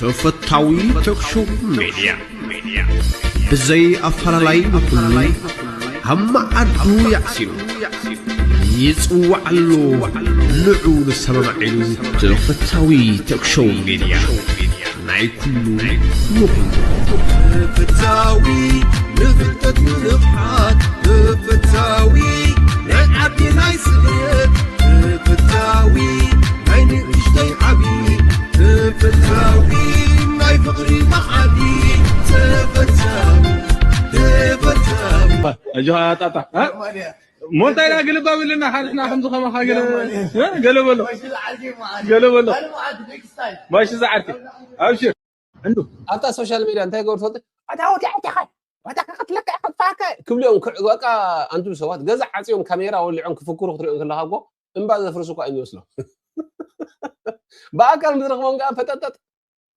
ተፈታዊ ተክሾው ሜድያ ብዘይ ኣፈላላይ ንኹሉ ኣብ መዓዱ ያዕሲሉ ይጽዋዕ ኣሎ ንዑ ንሰማማዒሉ ተፈታዊ ተክሾው ሜድያ ናይ ኩሉ ንኹሉ ተፈታዊ ንፍልጠት ንንቕሓት ተፈታዊ ናይ ዓዲ ናይ ስደት ትምፍታዊ ናይ ንእሽተይ ዓቢ ትምፍታዊ ናይ ፍቕሪ መዓዲ ተፈታዊ ተፈታዊ ኣጆኻ ኣጣጣ ሞንታይ ዳ ግልባብ ኢልና ሓርሕና ከምዚ ከማኻ ገለ በሎ ገለ በሎ ማይሲ ዝዓርኪ ኣብሽር ዕንዱ ኣብታ ሶሻል ሚድያ እንታይ ገበሩ ትፈልጥ ኣታ ወዲያ ወዲኻ ወዲኻ ክትለካ እየ ከጥፋካ እየ ክብሉ እዮም ክዕ- በቃ ኣንቱ ሰባት ገዛ ዓፅዮም ካሜራ ወሊዖም ክፍክሩ ክትሪኦም ከለካ እኮ እምባ ዘፍርሱ እኳ እዮም ይመስሎም ብኣካል ምዝረክቦም ከዓ ፈጠጠጥ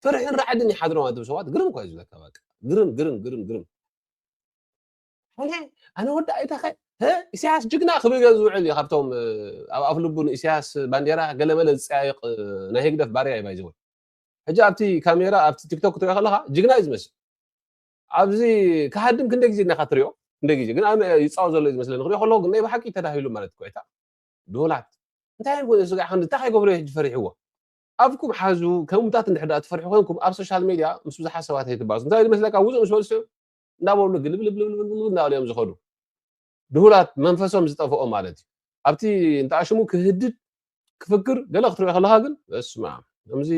ፍርሕን ራዕድን ይሓድሮም ኣንቱ ሰባት ግርም እኳ እዩ ዝብለካ በቃ ግርም ግርም ግርም ግርም ኣነ ኣነ ወዲ ኣይተኸ እ ኢሳያስ ጅግና ክብል ገ ዝውዕል እዩ ካብቶም እ፣ ኣብ ኣፍ ልቡ ንኢሳያስ ባንዴራ ገለመለ ዝፀያየቕ እ፣ ናይ ህግደፍ ባርያ ይባይ ዝብል ሕጂ ኣብቲ ካሜራ ኣብቲ ቲክቶክ ክትሪኦ ከለካ ጅግና እዩ ዝመስል ኣብዚ ክሃድም ክንደይ ግዜ ድናካ ትሪኦ ክንደይ ግዜ ግን ኣነ ይፃወ ዘሎ እዩ ዝመስለኒ ክሪኦ ከለኩ ግን ናይ ብሓቂ ተዳሂሉ ማለት ኮይታ ዶላት እንታይ ኮ ስጋ ክንዲ እንታይ ከይገብሮ ሕጂ ፈሪሕዎ ኣፍኩም ሓዙ ከምታት እንድሕዳ ትፈርሑ ኮንኩም ኣብ ሶሻል ሜድያ ምስ ብዙሓት ሰባት ኣይትባሱ እንታይ ዝመስለካ ውፁእ ምስ በልሱ እንዳበሉ ግልብልብልብልብ እናበሉ እዮም ዝኸዱ ድሁላት መንፈሶም ዝጠፈኦ ማለት እዩ ኣብቲ እንተኣሽሙ ክህድድ ክፍክር ገለ ክትሪኦ ከለካ ግን በስማም ከምዚ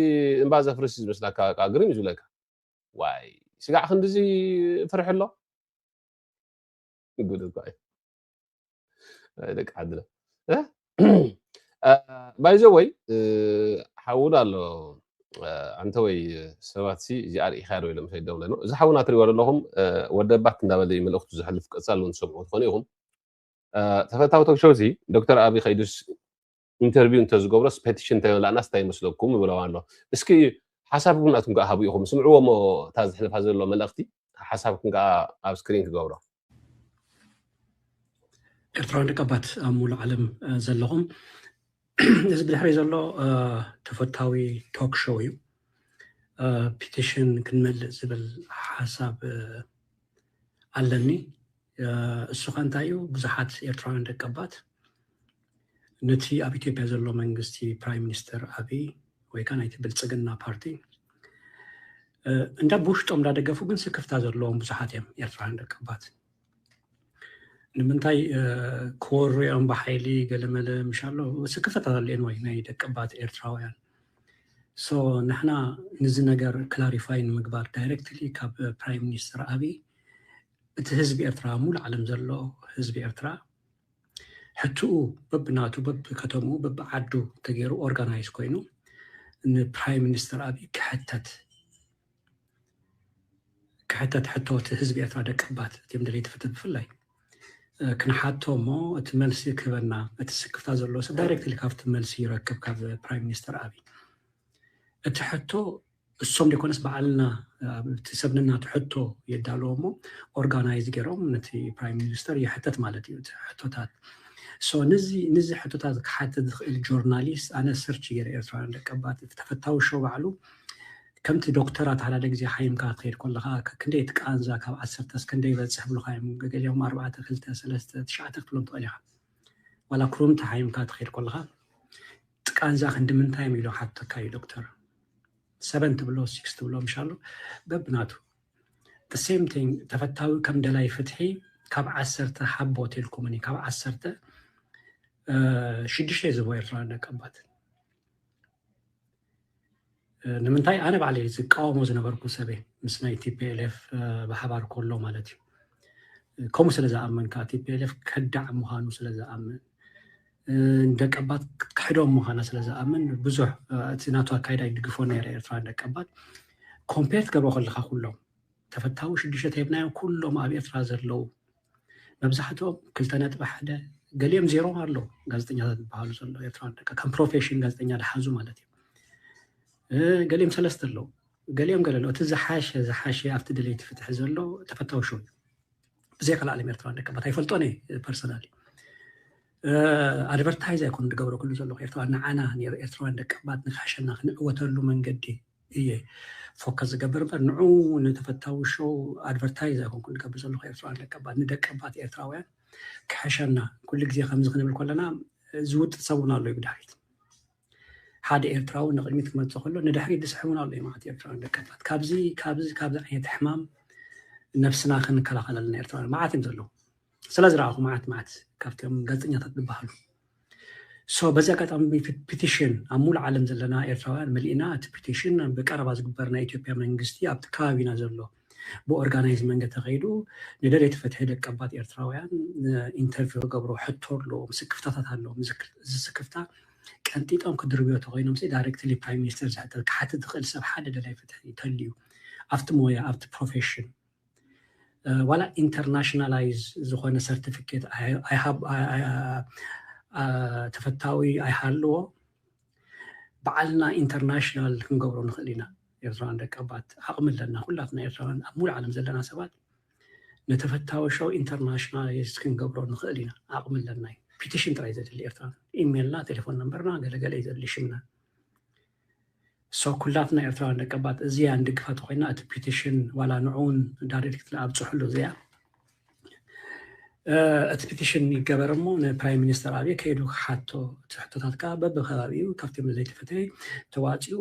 እምባ ዘፍርስ እዩ ዝመስላካ በቃ ግርም እዩ ዝብለካ ዋይ ስጋዕ ክንድዚ ፍርሒ ኣሎ ጉድ እኳ እዩ ደቂ ዓድና ባይዘ ወይ ሓውና ኣሎ ኣንተ ወይ ሰባት ሲ እዚ ኣርኢኻ ዶ ኢሎም ሰይዶም ለኖ እዚ ሓውና ትሪእዎ ዘለኹም ወደባት እንዳበለ መልእኽቱ ዘሕልፍ ቀፃሉ ንሰምዑ ትኾኑ ኢኹም ተፈታዊ ቶክሾው ሲ ዶክተር ኣብይ ከይዱስ ኢንተርቪው እንተዝገብሮስ ፔቲሽን እንተይመላእናስ እንታይ ይመስለኩም ይብለዋ ኣሎ እስኪ ሓሳብኩም ናትኩም ከዓ ሃቡ ኢኹም ስምዕዎ እሞ እታ ዝሕልፋ ዘሎ መልእኽቲ ሓሳብኩም ከዓ ኣብ ስክሪን ክገብሮ ኤርትራውያን ደቀባት ኣብ ሙሉእ ዓለም ዘለኹም እዚ ብድሕሪ ዘሎ ተፈታዊ ቶክ ሾው እዩ ፒቲሽን ክንመልእ ዝብል ሓሳብ ኣለኒ እሱ ከ እንታይ እዩ ብዙሓት ኤርትራውያን ደቀባት ነቲ ኣብ ኢትዮጵያ ዘሎ መንግስቲ ፕራይም ሚኒስተር ኣብይ ወይ ከዓ ናይቲ ብልፅግና ፓርቲ እንዳ ብውሽጦም እንዳደገፉ ግን ስክፍታ ዘለዎም ብዙሓት እዮም ኤርትራውያን ደቀባት ንምንታይ ክወርኦም ብሓይሊ ገለመለ ምሽ ኣሎ ስክፍታ ዘለየን ወይ ናይ ደቀባት ኤርትራውያን ሶ ንሕና ንዚ ነገር ክላሪፋይ ንምግባር ዳይረክትሊ ካብ ፕራይም ሚኒስተር ኣብይ እቲ ህዝቢ ኤርትራ ሙሉ ዓለም ዘሎ ህዝቢ ኤርትራ ሕቱኡ በብናቱ በብከተምኡ በብዓዱ ተገይሩ ኦርጋናይዝ ኮይኑ ንፕራይም ሚኒስተር ኣብይ ክሕተት ክሕተት ሕቶ እቲ ህዝቢ ኤርትራ ደቀባት እትም ደለይቲ ፍትህ ብፍላይ ክንሓቶ እሞ እቲ መልሲ ክህበና እቲ ስክፍታ ዘለዎ ሰብ ዳይሬክትሊ ካብቲ መልሲ ይረክብ ካብ ፕራይም ሚኒስተር ኣብይ እቲ ሕቶ እሶም ደይኮነስ ባዕልና እቲ ሰብ ነናቱ ሕቶ የዳልዎ እሞ ኦርጋናይዝ ገይሮም ነቲ ፕራይም ሚኒስተር ይሕተት ማለት እዩ እቲ ሕቶታት ሶ ንዚ ንዚ ሕቶታት ክሓትት ዝኽእል ጆርናሊስት ኣነ ሰርች ገይረ ኤርትራውያን ደቀባት እቲ ተፈታዊ ሾው ባዕሉ ከምቲ ዶክተራት ሓደ ግዜ ሓይምካ ትኸይድ ከለኻ ክንደይ እቲ ቃንዛ ካብ ዓሰርተ እስከንደይ ይበፅሕ ብሉኻ እዮም ገገሊኦም ኣርባዕተ ክልተ ሰለስተ ትሽዓተ ክትብሎም ትኽእል ኢኻ ዋላ ክሩምቲ ሓይምካ ትኸይድ ከለኻ ቃንዛ ክንዲ ምንታይ ኢሎም ሓተካ እዩ ዶክተር ሰበን ትብሎ ሲክስ ትብሎ ምሻሉ በብናቱ ሴም ቲንግ ተፈታዊ ከም ደላይ ፍትሒ ካብ ዓሰርተ ሓቦ ቴልኩምኒ ካብ ዓሰርተ ሽዱሽተ ዝቦ ኤርትራ ደቀባት ንምንታይ ኣነ ባዕለ ዝቃወሞ ዝነበርኩ ሰበ ምስ ናይ ቲፒኤልኤፍ ብሓባር ከሎ ማለት እዩ ከምኡ ስለ ዝኣመን ከዓ ቲፒኤልኤፍ ከዳዕ ምዃኑ ስለ ዝኣምን ንደቀባት ክትክሕዶም ምዃና ስለ ዝኣምን ብዙሕ እቲ ናቱ ኣካይዳ ይድግፎ ነይረ ኤርትራ ንደቀባት ኮምፔር ትገብሮ ከለካ ኩሎም ተፈታዊ ሽዱሽተ ተሂብናዮም ኩሎም ኣብ ኤርትራ ዘለዉ መብዛሕትኦም ክልተ ነጥቢ ሓደ ገሊኦም ዜሮ ኣሎ ጋዜጠኛታት ዝበሃሉ ዘሎ ኤርትራ ደቀ ከም ፕሮፌሽን ጋዜጠኛ ድሓዙ ማለት እዩ ገሊኦም ሰለስተ ኣለዉ ገሊኦም ገለ ኣለዉ እቲ ዝሓሸ ዝሓሸ ኣብቲ ድሌቲ ፍትሒ ዘሎ ተፈታዊ ሸው እዩ ብዘይ ካልእ ኣለም ኤርትራውያን ደቂ ኣባት ኣይፈልጦን እየ ፐርሰናሊ ኣድቨርታይዝ ኣይኮኑ ዝገብረ ኩሉ ዘለኹ ኤርትራ ንዓና ኤርትራውያን ደቂ ኣባት ንካሕሸና ክንዕወተሉ መንገዲ እየ ፎከስ ዝገብር እምበር ንዑ ንተፈታዊ ሾው ኣድቨርታይዝ ኣይኮንኩ ዝገብር ዘለኹ ኤርትራውያን ደቂ ኣባት ንደቂ ኣባት ኤርትራውያን ክሕሸና ኩሉ ግዜ ከምዚ ክንብል ከለና ዝውጥጥ ሰብ እውን ኣሎ እዩ ብድሕሪት ሓደ ኤርትራዊ ንቕድሚት ክመጽእ ከሎ ንድሕሪት ዝስሕቡን ኣሎ እዮም ማለት ኤርትራውያን ደቂ ኣትላት ካብዚ ካብዚ ካብዚ ዓይነት ሕማም ነብስና ክንከላኸል ኣለና ኤርትራውያን መዓት እዮም ዘለዉ ስለ ዝረኣኹ መዓት መዓት ካብቶም ጋዜጠኛታት ዝበሃሉ ሶ በዚ ኣጋጣሚ ፒቲሽን ኣብ ሙሉእ ዓለም ዘለና ኤርትራውያን መሊእና እቲ ፒቲሽን ብቀረባ ዝግበር ናይ ኢትዮጵያ መንግስቲ ኣብቲ ከባቢና ዘሎ ብኦርጋናይዝ መንገድ ተኸይዱ ንደለይቲ ፍትሒ ደቀባት ኤርትራውያን ኢንተርቪው ክገብሩ ሕቶ ኣለዎም፣ ስክፍታታት ኣለዎም። እዚ ስክፍታ ቀንጢጦም ክድርብዮ ተኮይኖም ሲ ዳይሬክትሊ ፕራይም ሚኒስተር ዝሕተ ክሓትት ዝኽእል ሰብ ሓደ ደላይ ፍትሒ ይተልዩ ኣብቲ ሞያ ኣብቲ ፕሮፌሽን ዋላ ኢንተርናሽናላይዝ ዝኾነ ሰርቲፊኬት ተፈታዊ ኣይሃልዎ ባዕልና ኢንተርናሽናል ክንገብሮ ንኽእል ኢና ኤርትራውያን ደቀባት ዓቕሚ ኣለና ኩላትና ኤርትራውያን ኣብ ሙሉእ ዓለም ዘለና ሰባት ንተፈታዊ ሸው ኢንተርናሽናላይዝ ክንገብሮ ንኽእል ኢና ዓቕሚ ኣለና እዩ ፒቲሽን ጥራይ ዘድሊ ኤርትራ ኢሜልና ቴሌፎን ነምበርና ገለገለ እዩ ዘድሊ ሽምና So ኩላትና ኤርትራውያን ደቀባት እዚኣ ንድግፋ ተኮይና እቲ ፒቲሽን ዋላ ንዑ ውን ዳሪርክትሊ ኣብጽሑሉ እዚኣ እቲ ፒቲሽን ይገበር እሞ ንፕራይም ሚኒስተር ኣብየ ከይዱ ክሓቶ እቲ ሕቶታት ከዓ በብከባቢኡ ካብቶም ዘይተፈተየ ተዋፂኡ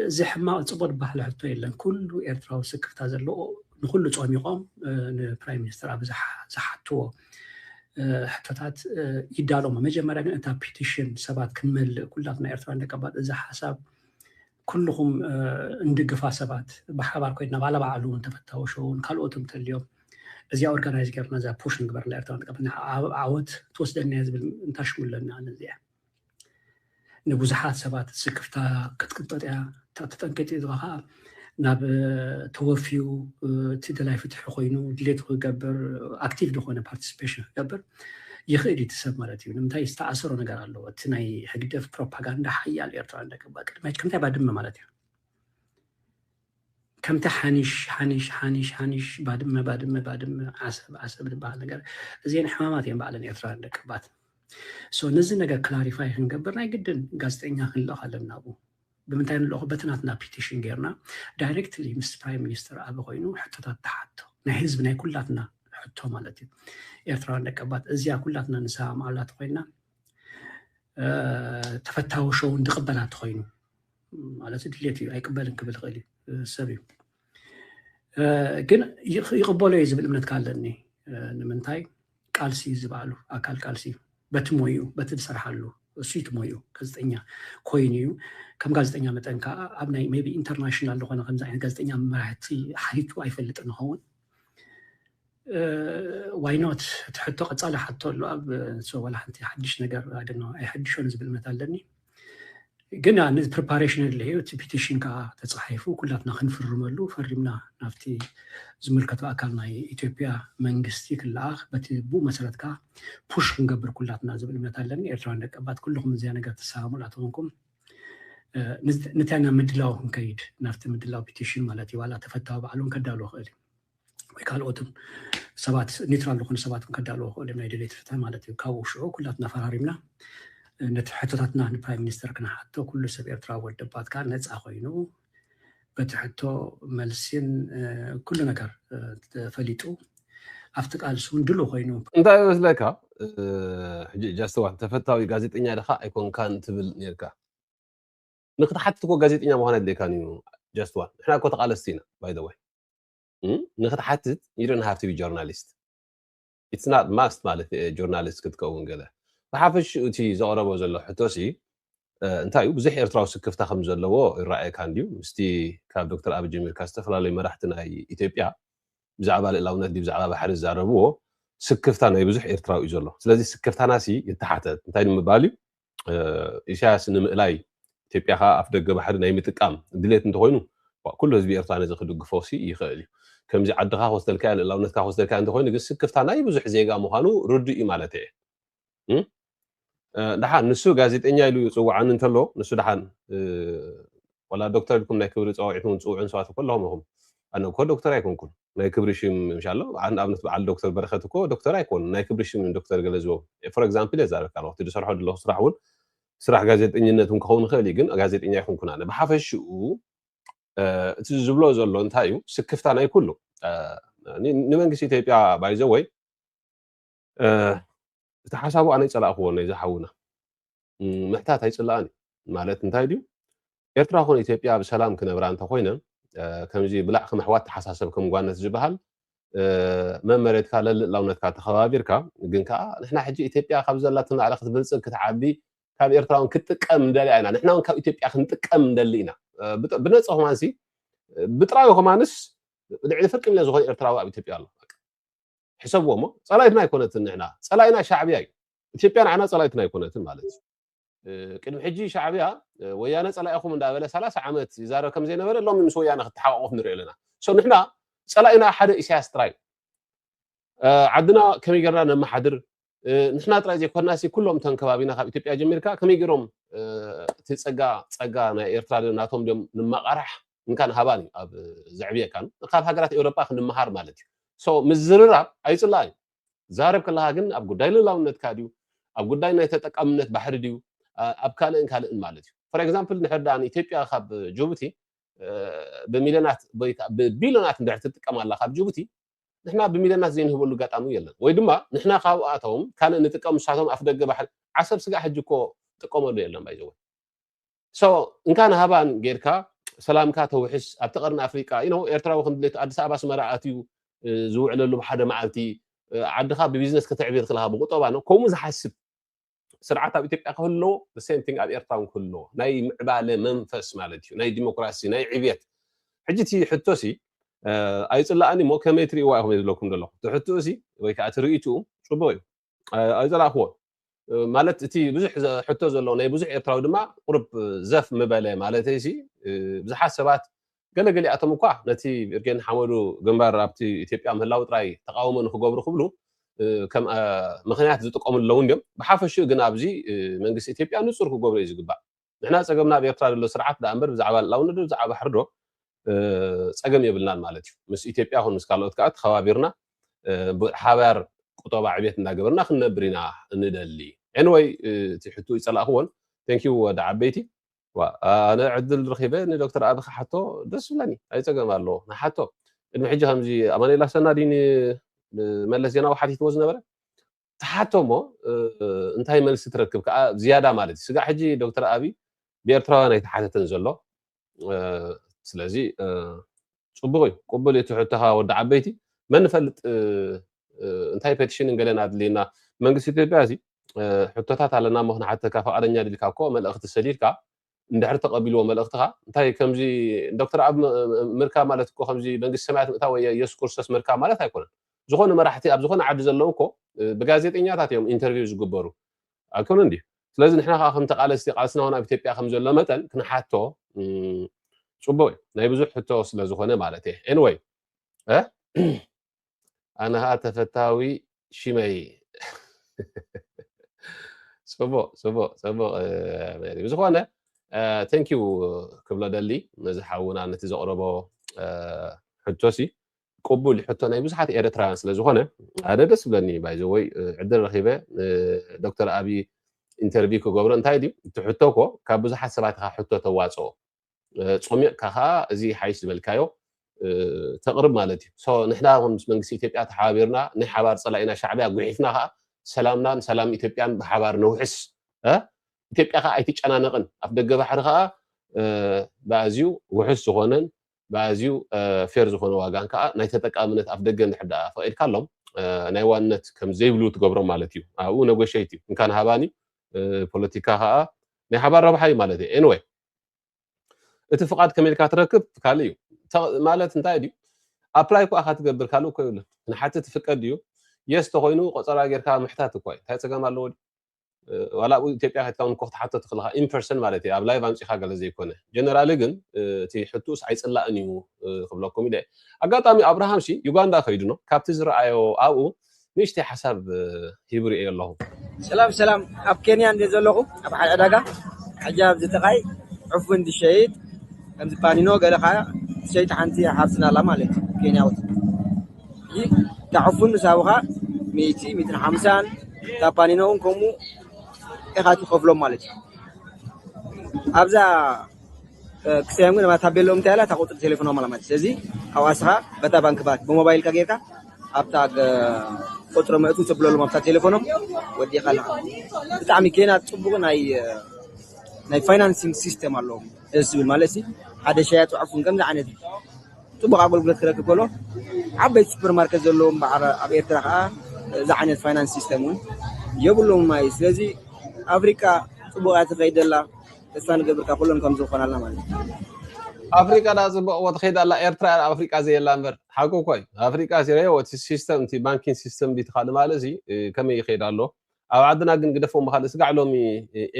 እዚ ሕማቅ ፅቡቅ ዝበሃል ሕቶ የለን ኩሉ ኤርትራዊ ስክፍታ ዘለዎ ንኩሉ ፆሚቆም ንፕራይም ሚኒስተር ኣብ ዝሓትዎ ሕቶታት ይዳሎሞ መጀመርያ ግን እታ ፒቲሽን ሰባት ክንመልእ ኩላትና ኤርትራን ደቀባት እዚ ሓሳብ ኩልኹም እንድግፋ ሰባት ብሓባር ኮይና ባለ ባዕሉ እውን ተፈታዊ ሸውን ካልኦት እንተልዮም እዚኣ ኦርጋናይዝ ገርና እዛ ፑሽ ንግበር ንኤርትራ ንቀብ ዓወት ትወስደና ዝብል እንታሽሙ ኣለና ነዚኣ ንብዙሓት ሰባት ስክፍታ ክትቅጠጥ እያ እታ ተጠንቂጥ እዚኣ ከዓ ናብ ተወፍዩ እቲ ደላይ ፍትሒ ኮይኑ ድሌቱ ክገብር ኣክቲቭ ዝኾነ ፓርቲስፔሽን ክገብር ይኽእል እዩ ትሰብ ማለት እዩ ንምንታይ ዝተኣሰሮ ነገር ኣለዎ እቲ ናይ ሕግደፍ ፕሮፓጋንዳ ሓያል ኤርትራ እንደገባ ቅድሚ ከምታይ ባድመ ማለት እዩ ከምቲ ሓኒሽ ሓኒሽ ሓኒሽ ሓኒሽ ባድመ ባድመ ባድመ ዓሰብ ዓሰብ ዝበሃል ነገር እዚኤን ሕማማት እየን ባዕለን ኤርትራውያን ደቀባት ሶ ነዚ ነገር ክላሪፋይ ክንገብር ናይ ግድን ጋዜጠኛ ክንልእኽ ኣለና ኣብኡ ብምንታይ ንልእኹ በቲ ናትና ፒቲሽን ጌርና ዳይሬክትሊ ምስ ፕራይም ሚኒስተር ኣበ ኮይኑ ሕቶታት ተሓቶ ናይ ህዝቢ ናይ ኩላትና ሕቶ ማለት እዩ ኤርትራውያን ደቀባት እዚያ ኩላትና ንሰማማዓላ ተኮይና ተፈታዊ ሸው እንድቕበላ ተኮይኑ ማለት ድሌት እዩ ኣይቅበልን ክብል ይኽእል እዩ ሰብ እዩ ግን ይቕበሎ እዩ ዝብል እምነት ካለኒ ንምንታይ ቃልሲ ዝበዓሉ ኣካል ቃልሲ በቲ ሞዩ በቲ ዝሰርሓሉ እሱ እቲ ሞዩ ጋዜጠኛ ኮይኑ እዩ ከም ጋዜጠኛ መጠን ከዓ ኣብ ናይ ቢ ኢንተርናሽናል ዝኾነ ከምዚ ዓይነት ጋዜጠኛ መራሕቲ ሓሊቱ ኣይፈልጥን ንኸውን ዋይኖት እቲ ሕቶ ቀፃሊ ሓቶ ኣሎ ኣብ ሰዋላ ሓንቲ ሓድሽ ነገር ኣደነ ኣይሐድሾን ዝብል እምነት ኣለኒ ግን ነዚ ፕሪፓሬሽን ኣለዩ እቲ ፒቲሽን ከዓ ተፃሒፉ ኩላትና ክንፍርመሉ ፈሪምና ናብቲ ዝምልከቱ ኣካል ናይ ኢትዮጵያ መንግስቲ ክለኣኽ በቲ ብኡ መሰረት ከዓ ፑሽ ክንገብር ኩላትና ዝብል እምነት ኣለኒ ኤርትራውያን ደቀባት ኩልኩም እዚያ ነገር ትሰማሙላ ተኾንኩም ንታይ ናብ ምድላው ክንከይድ ናብቲ ምድላው ፒቲሽን ማለት እዩ ዋላ ተፈታዊ ባዕሉን ከዳልዎ ክእል እዩ ወይ ካልኦትን ሰባት ኒትራል ዝኾኑ ሰባት ከዳልዎ ክእል እዮም ናይ ድሌት ፍትሒ ማለት እዩ ካብኡ ሽዑ ኩላትና ፈራሪምና ነቲ ሕቶታትና ንፕራይም ሚኒስተር ክነሓቶ ኩሉ ሰብ ኤርትራ ወደባት ከዓ ነፃ ኮይኑ በቲ ሕቶ መልሲን ኩሉ ነገር ፈሊጡ ኣብቲ ቃልሲ እውን ድሉ ኮይኑ እንታይ ይመስለካ ሕጂ ጃስተዋል ተፈታዊ ጋዜጠኛ ድኻ ኣይኮንካን ትብል ነርካ ንክትሓትት እኮ ጋዜጠኛ ምዃን ኣድልየካን እዩ ጃስተዋል ንሕና እኮ ተቓለስቲ ኢና ባይ ንክትሓትት ዩ ዶን ሃቭ ቱ ቢ ጆርናሊስት ኢትስ ናት ማስት ማለት ጆርናሊስት ክትከውን ገለ ብሓፈሽኡ እቲ ዘቕረቦ ዘሎ ሕቶሲ እንታይ እዩ ብዙሕ ኤርትራዊ ስክፍታ ከም ዘለዎ ይረኣየካ እንድዩ ምስቲ ካብ ዶክተር ኣብ ጀሚርካ ዝተፈላለዩ መራሕቲ ናይ ኢትዮጵያ ብዛዕባ ልእላውነት ዲ ብዛዕባ ባሕሪ ዝዛረብዎ ስክፍታ ናይ ብዙሕ ኤርትራዊ እዩ ዘሎ ስለዚ ስክፍታናሲ ይተሓተት እንታይ ንምባል እዩ ኢሳያስ ንምእላይ ኢትዮጵያ ከኣ ኣፍደገ ባሕሪ ናይ ምጥቃም ድሌት እንተኾይኑ ኩሉ ህዝቢ ኤርትራ ነዚ ክድግፎሲ ይኽእል እዩ። ከምዚ ዓድኻ ክወስደልካያ ልእላውነትካ ክወስደልካያ እንተኾይኑ ግን ስክፍታ ናይ ብዙሕ ዜጋ ምዃኑ ርዱእ እዩ ማለተይ እየ። እም? ደሓን ንሱ ጋዜጠኛ ኢሉ ይፅውዓኒ እንተሎ ንሱ ደሓን ወላ ዶክተር ኢልኩም ናይ ክብሪ ፀዋዒት እውን ፅውዑን ሰባት እኮ ኣለኹም ኢኹም ኣነ እኮ ዶክተር ኣይኮንኩን ናይ ክብሪ ሽም ምሽ ኣሎ ንኣብነት በዓል ዶክተር በረኸት እኮ ዶክተር ኣይኮኑን ናይ ክብሪ ሽም ዶክተር ገለ ዝቦም ፎር ኤግዛምፕል እየ ዛረብካ ኣለኹ እቲ ዝሰርሖ ዘለኹ ስራሕ እውን ስራሕ ጋዜጠኝነት እውን ክኸውን ይኽእል እዩ ግን ጋዜጠኛ ኣይኮንኩን ኣነ ብሓፈሽኡ እቲ ዝብሎ ዘሎ እንታይ እዩ ስክፍታ ናይ ኩሉ ንመንግስቲ ኢትዮጵያ ባይዘወይ እቲ ሓሳቡ ኣነ ይጸላእክዎ ነዛ ሓውና ምሕታት ኣይጽላኣን ማለት እንታይ ድዩ ኤርትራ ኮነ ኢትዮጵያ ብሰላም ክነብራ እንተኮይነን ከምዚ ብላዕ ከም ኣሕዋት ተሓሳሰብ ከም ጓነት ዝበሃል መመሬትካ ለልእላውነትካ ተኸባቢርካ ግን ከዓ ንሕና ሕጂ ኢትዮጵያ ካብ ዘላትን ላዕሊ ክትብልፅግ ክትዓቢ ካብ ኤርትራውን ክትጥቀም ንደሊ ኢና ንሕና እውን ካብ ኢትዮጵያ ክንጥቀም ንደሊ ኢና ብነፀ ኮማንሲ ብጥራዊ ኮማንስ ልዕሊ ፍርቂ ሚልዮን ዝኾነ ኤርትራዊ ኣብ ኢትዮጵያ ኣሎ ሕሰብዎ እሞ ጸላኢትና ኣይኮነትን ንሕና ጸላኢና ሻዕብያ እዩ ኢትዮጵያ ንዓና ጸላኢትና ኣይኮነትን ማለት እዩ ቅድሚ ሕጂ ሻዕብያ ወያነ ጸላኢኹም እንዳበለ ሰላሳ ዓመት ይዛረብ ከም ዘይነበረ ሎሚ ምስ ወያነ ክተሓቋቆፍ ንሪኦ ኣለና ሶ ንሕና ጸላኢና ሓደ ኢሳያስ ጥራይ ዓድና ከመይ ጌርና ነመሓድር ንሕና ጥራይ ዘይኮና ኩሎም እተን ከባቢና ካብ ኢትዮጵያ ጀሚርካ ከመይ ገይሮም እቲ ፀጋ ፀጋ ናይ ኤርትራ ድዮም ናቶም ድዮም ንማቓራሕ እንካን ሃባን እዩ ኣብ ዘዕብየካን ካብ ሃገራት ኤውሮጳ ክንመሃር ማለት እዩ ሶ ምዝርራብ ኣይፅላእ እዩ ዛረብ ከለካ ግን ኣብ ጉዳይ ልላውነትካ ድዩ ኣብ ጉዳይ ናይ ተጠቃምነት ባሕሪ ድዩ ኣብ ካልእን ካልእን ማለት እዩ ፎር ኤግዛምፕል ንሕር ድኣ ንኢትዮጵያ ካብ ጅቡቲ ብሚልዮናት ወይ ብቢልዮናት እንድሕር ትጥቀም ኣላ ካብ ጅቡቲ ንሕና ብሚልዮናት ዘይንህበሉ ኣጋጣሚ የለን ወይ ድማ ንሕና ካብኣቶም ካልእ ንጥቀም ንሳቶም ኣፍደገ ባሕሪ ዓሰብ ስጋዕ ሕጂ እኮ ጥቀመሉ የለን by the way so እንካን ሃባን ጌርካ ሰላምካ ተውሕስ ኣብቲ ቀርኒ ኣፍሪቃ you know ኤርትራዊ ከም ድሌቱ ኣዲስ ኣበባ ኣስመራ ኣትዩ ዝውዕለሉ ሓደ መዓልቲ ዓድኻ ብቢዝነስ ከተዕብይር ከለኻ ብቁጠባ ነው ከምኡ ዝሓስብ ስርዓት ኣብ ኢትዮጵያ ክህልዎ the same thing ኣብ ኤርትራ ውን ክህልዎ ናይ ምዕባለ መንፈስ ማለት እዩ ናይ ዲሞክራሲ ናይ ዕብየት ሕጂ እቲ ሕቶሲ ኣይጽላኣኒ እሞ ከመይ ትርእይዋ ኢኹም ዝብለኩም ዘለኹ እቲ ሕትኡሲ ወይ ከዓ እቲ ርእይትኡ ጽቡቕ እዩ ኣይጸላእክዎ ማለት እቲ ብዙሕ ሕቶ ዘለዎ ናይ ብዙሕ ኤርትራዊ ድማ ቁርብ ዘፍ ምበለ ማለተይሲ ብዙሓት ሰባት ገለ ገሊኣቶም እኳ ነቲ እርጌ ንሓመዱ ግንባር ኣብቲ ኢትዮጵያ ምህላው ጥራይ ተቓውሞ ንክገብሩ ክብሉ ከም ምኽንያት ዝጥቀምሉ ኣለዉ እንድዮም። ብሓፈሽኡ ግን ኣብዚ መንግስቲ ኢትዮጵያ ንጹር ክገብሮ እዩ ዝግባእ። ንሕና ጸገምና ኣብ ኤርትራ ዘሎ ስርዓት ደኣ እምበር ብዛዕባ ልእላውነትዶ ብዛዕባ ባሕርዶ ጸገም የብልናን ማለት እዩ። ምስ ኢትዮጵያ ይኹን ምስ ካልኦት ከኣ ተኸባቢርና ብሓባር ቁጠባ ዕብየት እንዳገበርና ክንነብር ኢና ንደሊ። Anyway እቲ ሕትኡ ኣይጸላእክዎን። Thank you ወዲ ዓበይቲ። ዋእ ኣነ ዕድል ረኺበ ንዶክተር ኣቢ ክሓቶ ደስ ዝብለኒ ኣይ ጸገም ኣለዎ ንሓቶ ቅድሚ ሕጂ ከምዚ ኣማኑኤል ኣሰና ድዩ ንመለስ ዜናዊ ሓቲትዎ ዝነበረ ትሓቶ እሞ እንታይ መልሲ ትረክብ ከዓ ዝያዳ ማለት እዩ ስጋዕ ሕጂ ዶክተር ኣቢ ብኤርትራውያን ኣይተሓተተን ዘሎ ስለዚ ፅቡቅ እዩ ቅቡል እቲ ሕቶኻ ወዲ ዓበይቲ መን ንፈልጥ እንታይ ፔቲሽንን ገለን ኣድልዩና መንግስቲ ኢትዮጵያ እዚ ሕቶታት ኣለና እሞ ክንሓተካ ፍቃደኛ ድልካ እኮ መልእኽቲ ሰዲድካ እንድሕር ተቐቢልዎ መልእኽትኻ እንታይ ከምዚ ዶክተር ኣብ ምርካብ ማለት እኮ ከምዚ መንግስቲ ሰማያት ምእታው ወይ የሱስ ክርስቶስ ምርካብ ማለት ኣይኮነን ዝኾነ መራሕቲ ኣብ ዝኾነ ዓዲ ዘለዉ እኮ ብጋዜጠኛታት እዮም ኢንተርቪው ዝግበሩ ኣይኮነን ድዩ ስለዚ ንሕና ከዓ ከም ተቃለስቲ ቃልስና እውን ኣብ ኢትዮጵያ ከም ዘሎ መጠን ክንሓቶ ፅቡቅ እዩ ናይ ብዙሕ ሕቶ ስለዝኾነ ማለት እየ ኤንወይ ኣነ ከኣ ተፈታዊ ሽመይ ጽቡቅ ጽቡቅ ጽቡቅ ሜሪ ብዝኾነ ቴንክ ዩ ክብሎ ደሊ ነዚ ሓውና ነቲ ዘቕረቦ ሕቶሲ ቅቡል ሕቶ ናይ ብዙሓት ኤርትራውያን ስለ ዝኾነ ኣደ ደስ ብለኒ ባይዘወይ ዕድል ረኺበ ዶክተር ኣብዪ ኢንተርቪው ክገብሮ እንታይ ድዩ እቲ ሕቶ ኮ ካብ ብዙሓት ሰባት ኢኻ ሕቶ ተዋፅኦ ጾሚቕካ ከኣ እዚ ይሓይሽ ዝበልካዮ ተቕርብ ማለት እዩ። ሶ ንሕና እውን ምስ መንግስቲ ኢትዮጵያ ተሓባቢርና ናይ ሓባር ጸላኢና ሻዕብያ ጉሒፍና ከኣ ሰላምናን ሰላም ኢትዮጵያን ብሓባር ነውሕስ። ኢትዮጵያ ከኣ ኣይትጨናነቕን። ኣፍደገ ባሕሪ ከኣ ብኣዝዩ ውሑስ ዝኾነን ብኣዝዩ ፌር ዝኾነ ዋጋን ከኣ ናይ ተጠቃምነት ኣፍደገ እንድሕር ደኣ ፈቒድካሎም ናይ ዋንነት ከም ዘይብሉ ትገብሮም ማለት እዩ። ኣብኡ ነጎሸይት እዩ። እንካን ሃባን እዩ። ፖለቲካ ከኣ ናይ ሓባር ረብሓ እዩ ማለት እዩ። ኤንወይ እቲ ፍቓድ ከመይ ኢልካ ትረክብ ካልእ እዩ ማለት እንታይ ድዩ ኣፕላይ እኳ ኢኻ ትገብር ካልእ እኮ የብሉን ንሓቲ ትፍቀድ ድዩ የስ ተኮይኑ ቆፀራ ጌርካ ምሕታት እኳ እዩ እንታይ ፀገም ኣለዎ ድዩ ዋላ ኣብኡ ኢትዮጵያ ከትካ እውን ክትሓቶ ትኽእል ኢኻ ኢንፐርሰን ማለት እዩ ኣብ ላይቭ ኣምፂኻ ገለ ዘይኮነ ጀነራሊ ግን እቲ ሕቱስ ኣይፅላእን እዩ ክብለኩም ኢለ ኣጋጣሚ ኣብርሃም ሲ ዩጋንዳ ከይዱ ኖ ካብቲ ዝረኣዮ ኣብኡ ንእሽተይ ሓሳብ ሂብ ርእዮ ኣለኹ። ሰላም ሰላም ኣብ ኬንያ እንድየ ዘለኹ ኣብ ሓደ ዕዳጋ ሕጂ ኣብዚ ጥቃይ ዑፍ ውን ዝሸይጥ ከምዚ ፓኒኖ ገለ ከኣ ትሸይጥ ሓንቲ ሓብትና ኣላ ማለት እዩ ኬንያዊት ሕጂ እታ ዑፍ ውን ምስ ሃቡኻ ሚእቲ ሚእትን ሓምሳን እታ ፓኒኖ ውን ከምኡ ኢኻ ትኸፍሎም ማለት እዩ ኣብዛ ክሰያም ግን ታቤለኦም እንታይ ኣላ እታ ቁፅሪ ቴሌፎኖም ኣላ ማለት ስለዚ ካብኡ ኣስኻ በታ ባንክ ባት ብሞባይልካ ጌርካ ኣብታ ቁፅሪ መእቱ ተብለሎም ኣብታ ቴሌፎኖም ወዲኻ ኣለኻ ብጣዕሚ ኬና ፅቡቕ ናይ ናይ ፋይናንሲንግ ሲስተም ኣለዎም ደስ ዝብል ማለት ሲ ሓደ ሸያጥ ዕፉን ከምዚ ዓይነት ፅቡቕ ኣገልግሎት ክረክብ ከሎ ዓበይቲ ሱፐር ማርኬት ዘለዎም በዓል ኣብ ኤርትራ ከዓ እዚ ዓይነት ፋይናንስ ሲስተም እውን የብሎም ማይ ስለዚ ኣፍሪካ ፅቡቓ ትኸይድ ዘላ ተስፋ ንገብርካ ኩሎም ከምዚ ክኮናልና ማለት እዩ። ኣፍሪቃ ድኣ ጽቡቅ ትከይድ ኣላ ኤርትራ እያ ኣፍሪቃ ዘየላ እንበር ሓቁ እኮ እዩ ኣፍሪቃ ሲረዮ እቲ ሲስተም እቲ ባንኪን ሲስተም ዲቲ ካልእ ማልእ እዚ ከመይ ይከይድ ኣሎ ኣብ ዓድና ግን ግደፎ እሞ ካልእ ስጋዕ ሎሚ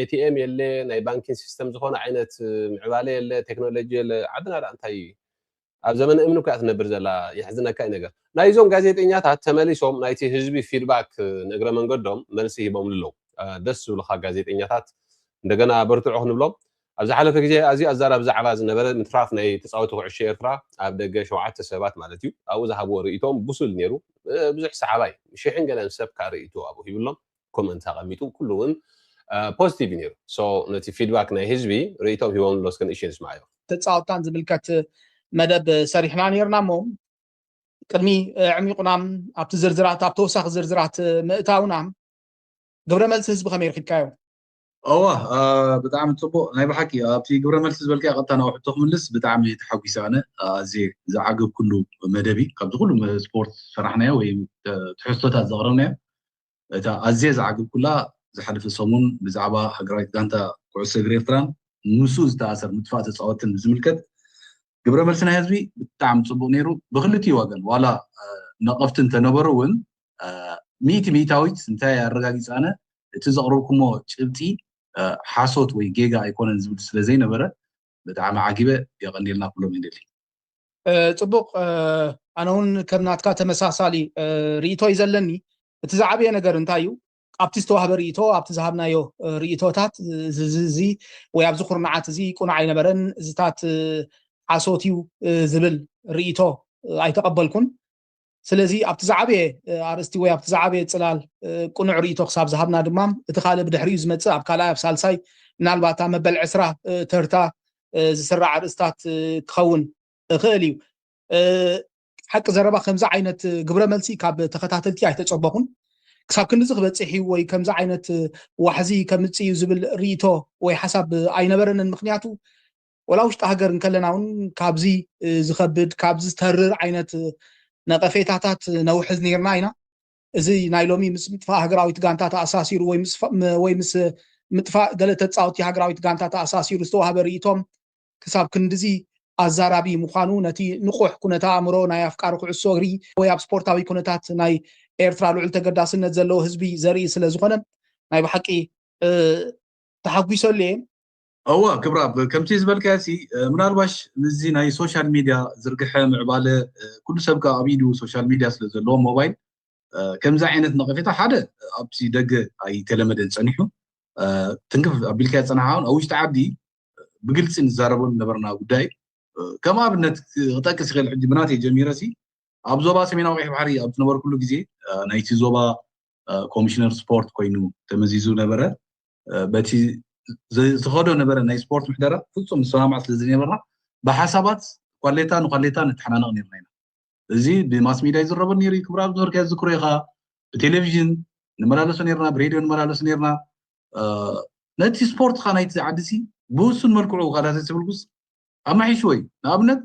ኤቲኤም የለ ናይ ባንኪን ሲስተም ዝኮነ ዓይነት ምዕባለ የለ ቴክኖሎጂ የለ ዓድና ድኣ እንታይ ኣብ ዘመነ እምኒ እኮ እያ ትነብር ዘላ የሕዝነካ እዩ ነገር ናይ እዞም ጋዜጠኛታት ተመሊሶም ናይቲ ህዝቢ ፊድባክ ንእግረ መንገዶም መልሲ ሂቦምሉ ኣለው ደስ ዝብሉካ ጋዜጠኛታት እንደገና በርትዑ ክንብሎም ኣብ ዝሓለፈ ግዜ ኣዝዩ ኣዛራቢ ዛዕባ ዝነበረ ምትራፍ ናይ ተጻወቲ ኩዕሾ ኤርትራ ኣብ ደገ ሸውዓተ ሰባት ማለት እዩ ኣብኡ ዝሃብዎ ርእይቶኦም ብሱል ነይሩ ብዙሕ ሰሓባይ ሽሕን ገለን ሰብ ከኣ ርእይቶ ኣብኡ ሂብሎም ኮመንት ኣቐሚጡ ኩሉ ውን ፖዚቲቭ እዩ ነይሩ ሶ ነቲ ፊድባክ ናይ ህዝቢ ርእይቶም ሂቦም ኣሎ እስከ ንእሽተይ ንስማዓዮ ተጻወትታን ዝምልከት መደብ ሰሪሕና ነርና እሞ ቅድሚ ዕሚቑና ኣብቲ ዝርዝራት ኣብ ተወሳኺ ዝርዝራት ምእታውና ግብረ መልሲ ህዝቢ ከመይ ረኪብካዮ እዋ ብጣዕሚ ፅቡቅ ናይ ብሓቂ ኣብቲ ግብረ መልሲ ዝበልካ ቀጥታ ናብ ሕቶ ክምልስ ብጣዕሚ ተሓጒሰ ኣነ ኣዝየ ዝዓገብኩሉ መደብ እዩ ካብዚ ኩሉ ስፖርት ሰራሕናዮ ወይ ትሕዝቶታት ዘቕረብናዮ እታ ኣዝየ ዝዓግብኩላ ዝሓለፈ ሰሙን ብዛዕባ ሃገራዊት ጋንታ ኩዕሶ እግሪ ኤርትራን ምስኡ ዝተኣሰር ምጥፋእ ተጻወትን ብዝምልከት ግብረ መልሲ ናይ ህዝቢ ብጣዕሚ ጽቡቅ ነይሩ ብክልቲኡ ወገን ዋላ ነቀፍቲ እንተነበሩ እውን ሚእቲ ሚእታዊት እንታይ ኣረጋጊጸ ኣነ እቲ ዘቅርብኩሞ ጭብጢ ሓሶት ወይ ጌጋ ኣይኮነን ዝብል ስለዘይነበረ ብጣዕሚ ዓጊበ የቀንየልና ኩሎም ይንሊ። ጽቡቅ ኣነ ውን ከም ናትካ ተመሳሳሊ ሪኢቶ ዩ ዘለኒ እቲ ዝዓበየ ነገር እንታይ ዩ ኣብቲ ዝተዋህበ ሪኢቶ ኣብቲ ዝሃብናዮ ሪኢቶታት እዚ እዚ ወይ ኣብዚ ኩርናዓት እዚ ቁኑዕ ኣይነበረን እዚታት ሓሶት ዩ ዝብል ሪኢቶ ኣይተቀበልኩን ስለዚ ኣብቲ ዝዓበየ ኣርእስቲ ወይ ኣብቲ ዝዓበየ ጽላል ቅኑዕ ርእይቶ ክሳብ ዝሃብና ድማ እቲ ካልእ ብድሕሪኡ ዝመጽእ ኣብ ካልኣይ ኣብ ሳልሳይ ምናልባት ኣብ መበል ዕስራ ተርታ ዝስራዕ ኣርእስታት ክኸውን እኽእል እዩ ሓቂ ዘረባ ከምዚ ዓይነት ግብረ መልሲ ካብ ተኸታተልቲ ኣይተጸበኹን ክሳብ ክንዲዚ ክበፅሕ እዩ ወይ ከምዚ ዓይነት ዋሕዚ ከምፅእ እዩ ዝብል ርእቶ ወይ ሓሳብ ኣይነበረንን ምክንያቱ ወላ ውሽጢ ሃገር እንከለና እውን ካብዚ ዝኸብድ ካብዚ ዝተርር ዓይነት ነቐፌታታት ነውሕዝ ነርና ኢና እዚ ናይ ሎሚ ምስ ምጥፋእ ሃገራዊት ጋንታ ተኣሳሲሩ ወይ ምስ ምጥፋእ ገለ ተፃወቲ ሃገራዊት ጋንታ ተኣሳሲሩ ዝተዋህበ ርእቶም ክሳብ ክንድዚ ኣዛራቢ ምዃኑ ነቲ ንቑሕ ኩነተ ኣእምሮ ናይ ኣፍቃሪ ኩዕሶ እግሪ ወይ ኣብ ስፖርታዊ ኩነታት ናይ ኤርትራ ልዑል ተገዳስነት ዘለዎ ህዝቢ ዘርኢ ስለ ዝኾነ ናይ ብሓቂ ተሓጒሰሉ እየ እወ ክብራብ ከምቲ ዝበልካዮሲ ምናልባሽ ምስዚ ናይ ሶሻል ሚድያ ዝርግሐ ምዕባለ ኩሉ ሰብ ከኣ ኣብ ኢዱ ሶሻል ሚድያ ስለ ዘለዎ ሞባይል ከምዚ ዓይነት ነቐፌታ ሓደ ኣብቲ ደገ ኣይተለመደን ጸኒሑ ትንክፍ ኣቢልካዮ ዝጸናሕካ ኣብ ውሽጢ ዓዲ ብግልጺ ንዛረበሉ ዝነበርና ጉዳይ ከም ኣብነት ክጠቅስ ይኽእል ሕጂ ብናተይ ጀሚረሲ ኣብ ዞባ ሰሜናዊ ቀይሕ ባሕሪ ኣብ ዝነበርኩሉ ግዜ ናይቲ ዞባ ኮሚሽነር ስፖርት ኮይኑ ተመዚዙ ነበረ በቲ ዝተኸዶ ነበረ ናይ ስፖርት ምሕደራ ፍፁም ዝሰማማዕ ስለ ዝነበርና ብሓሳባት ኳሌታ ንኳሌታ ንተሓናነቕ ነርና ኢና እዚ ብማስ ሚድያ ይዝረበ ነይሩ ክብሪ ኣብ ዝነበርካ ዝዝክሮ ኢኻ ብቴሌቭዥን ንመላለሶ ነርና ብሬድዮ ንመላለሶ ነርና ነቲ ስፖርትካ ናይቲ ዓዲ ሲ ብውሱን መልክዑ ካዳተ ዝብልኩስ ኣማሒሽዎ እዩ ንኣብነት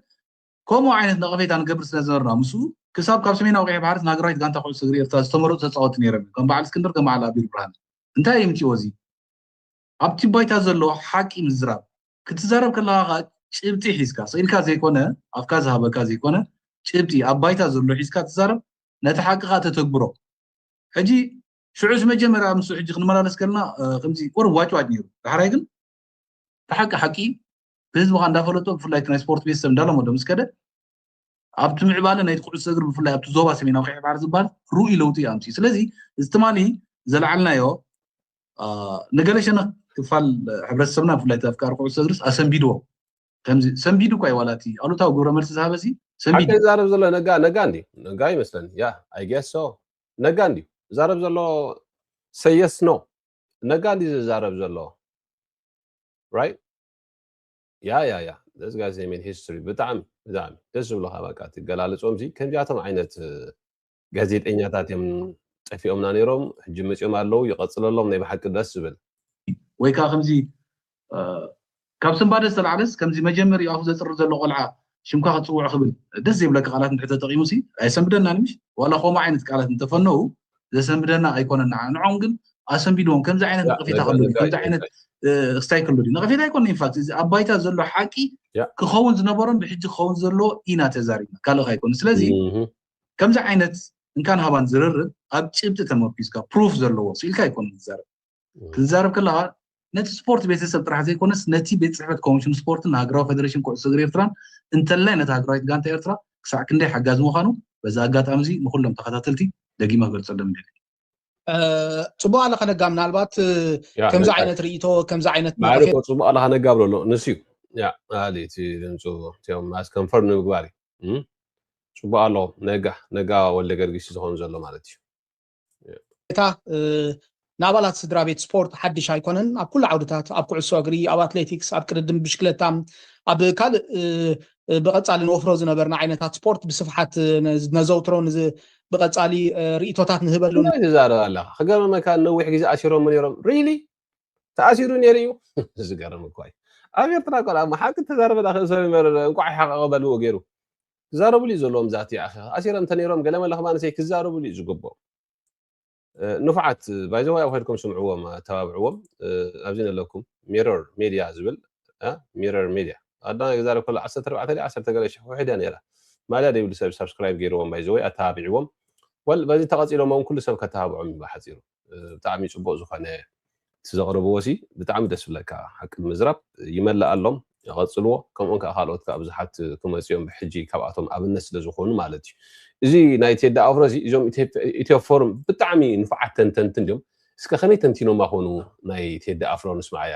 ከምኡ ዓይነት ነቐፌታ ንገብር ስለ ዝነበርና ምስኡ ክሳብ ካብ ሰሜናዊ ቀይሕ ባሕሪ ናግራዊት ጋንታ ኩዕሶ እግሪ ኤርትራ ዝተመረጹ ተጻወትቲ ነይሮም እዮም ከም በዓል እስክንድር ከም በዓል ኣቢል ብርሃነ እንታይ የምጽኦ እዚ ኣብቲ ባይታ ዘሎ ሓቂ ምዝራብ ክትዛረብ ከለኻ ከኣ ጭብጢ ሒዝካ ስኢልካ ዘይኮነ ኣፍካ ዝሃበካ ዘይኮነ ጭብጢ ኣብ ባይታ ዘሎ ሒዝካ ትዛረብ ነቲ ሓቂ ከኣ ተተግብሮ ሕጂ ሽዑስ መጀመርያ ምስ ሕጂ ክንመላለስ ከለና ከምዚ ቁሩብ ዋጭዋጭ ነይሩ ዳሕራይ ግን ብሓቂ ሓቂ ህዝቢ ከ እንዳፈለጦ ብፍላይ ናይ ስፖርት ቤተሰብ እንዳለመዶ ምስ ከደ ኣብቲ ምዕባለ ናይ ኩዕሶ እግሪ ብፍላይ ኣብቲ ዞባ ሰሜናዊ ቀይሕ ባሕሪ ዝበሃል ርኡይ ለውጢ እዩ ኣምፅኡ ስለዚ እዚ ትማሊ ዘለዓልናዮ ንገለ ሸነኽ ክፋል ሕብረተሰብና ብፍላይ ኣፍቃሪ ኩዕሶ እግሪስ ኣሰንቢድዎ ከምዚ ሰንቢዱ እኳ እዩ ዋላ እቲ ኣሉታዊ ግብረ መልሲ ዝሃበ ሲ ሰንቢዱ ዛረብ ዘሎ ነጋ ነጋ እንዲ ነጋ ይመስለኒ ያ ኣይጌሶ ነጋ እንዲ ዛረብ ዘሎ ሰየስ ኖ ነጋ እንዲ ዝዛረብ ዘሎ ራይ ያ ያ ያ ደስ ጋይ ሜድ ሂስትሪ ብጣዕሚ ብጣዕሚ ደስ ዝብሉካ በቃ እቲ ገላልፆም ሲ ከምዚኣቶም ዓይነት ጋዜጠኛታት እዮም ጠፊኦምና ነይሮም ሕጂ መፂኦም ኣለዉ ይቐፅለሎም ናይ ብሓቂ ደስ ዝብል ወይ ከዓ ከምዚ ካብ ስንባደ ዝተላዕለስ ከምዚ መጀመሪኡ ኣፉ ዘጽሪ ዘሎ ቆልዓ ሽምካ ክትጽውዖ ክብል ደስ ዘይብለካ ቃላት እንድሕር ተጠቂሙሲ ኣየሰንብደናን ምሽ ዋላ ኮምኡ ዓይነት ቃላት እንተፈነዉ ዘሰንብደና ኣይኮነን ንዓና ንዖም ግን ኣሰንቢድዎም ከምዚ ዓይነት ነቐፌታ ከሉ ከምዚ ዓይነት ክስታይ ከሉ ነቐፌታ ኣይኮነ ኢንፋክት እዚ ኣብ ባይታ ዘሎ ሓቂ ክኸውን ዝነበሮን ብሕጂ ክኸውን ዘሎ ኢና ተዛሪብና ካልእ ኣይኮነ ስለዚ ከምዚ ዓይነት እንካን ሃባን ዝርርብ ኣብ ጭብጢ ተመርኪዝካ ፕሩፍ ዘለዎ ስኢልካ ኣይኮነ ዝዛረብ ክትዛረብ ከለካ ነቲ ስፖርት ቤተሰብ ጥራሕ ዘይኮነስ ነቲ ቤት ፅሕፈት ኮሚሽን ስፖርትን ሃገራዊ ፌደሬሽን ኩዕሶ እግሪ ኤርትራን እንተላይ ነታ ሃገራዊት ጋንታ ኤርትራ ክሳዕ ክንደይ ሓጋዚ ምዃኑ በዚ ኣጋጣሚ እዚ ንኩሎም ተኸታተልቲ ደጊመ ክገልፀሎም ይደሊ ፅቡቅ ኣለካ ነጋ ምናልባት ከምዚ ዓይነት ርእቶ ከምዚ ዓይነት ማለኮ ፅቡቅ ኣለካ ነጋ ብሎ ኣሎ ንስ እዩ ኣሊ እቲ ድምፁ እቲኦም ማስ ከንፈር ንምግባር እዩ ፅቡቅ ኣለኹም ነጋ ነጋ ወልደ ገርጊስ ዝኾኑ ዘሎ ማለት እዩ እታ ንኣባላት ስድራ ቤት ስፖርት ሓድሽ ኣይኮነን። ኣብ ኩሉ ዓውድታት፣ ኣብ ኩዕሶ እግሪ፣ ኣብ ኣትሌቲክስ፣ ኣብ ቅድድም ብሽክለታ፣ ኣብ ካልእ ብቐጻሊ ንወፍሮ ዝነበርና ዓይነታት ስፖርት ብስፍሓት ነዘውትሮ ብቐጻሊ ርእቶታት ንህበሉ እንታይ ትዛረብ ኣለኻ ክገርመካ ነዊሕ ግዜ ኣሲሮም ነይሮም ሪሊ ተኣሲሩ ነይሩ እዩ ዝገርም እኳ እዩ ኣብ ኤርትራ ቆልዓ መሓቂ ተዛረበ ዳኸ ሰብ መረረ እንቋዕ ሓቐቐ በልዎ ገይሩ ክዛረብሉ እዩ ዘለዎም ዛቲ ኣኼኻ ኣሲረም ተነይሮም ገለመለ ከማንሰይ ክዛረብሉ እዩ ዝግብኦም ንፉዓት ባይዘዋይ ኣብ ከድኩም ስምዕዎም ኣተባብዕዎም ኣብዚ ነለኩም ሚረር ሜድያ ዝብል ሚረር ሜድያ ኣዳና ክዛረብ ከሎ ዓሰርተ ኣርባዕተ ድያ ዓሰርተ ገለ ሽሕ ውሕድ እያ ነይራ ማልያ ደይብሉ ሰብ ሳብስክራይብ ገይርዎም ባይዘወይ ኣተባብዕዎም ወል በዚ ተቐፂሎምዎም ኩሉ ሰብ ከተባብዖም እዩ ብሓፂሩ ብጣዕሚ ጽቡቅ ዝኮነ እቲ ዘቅርብዎ ሲ ብጣዕሚ ደስ ዝብለካ ሓቂ ምዝራብ ይመለኣሎም ቀጽልዎ ከምኦም ከኣ ካልኦት ከኣ ብዙሓት ክመጹ እዮም ብሕጂ ካብኣቶም ኣብነት ስለ ዝኮኑ ማለት እዩ እዚ ናይ ቴዲ ኣፍሮ እዚ እዞም ኢትዮ ፎርም ብጣዕሚ ንፉዓት ተንተንቲ እንድዮም እስከ ከመይ ተንቲኖማ ኮኑ ናይ ቴዲ ኣፍሮ ንስማዓያ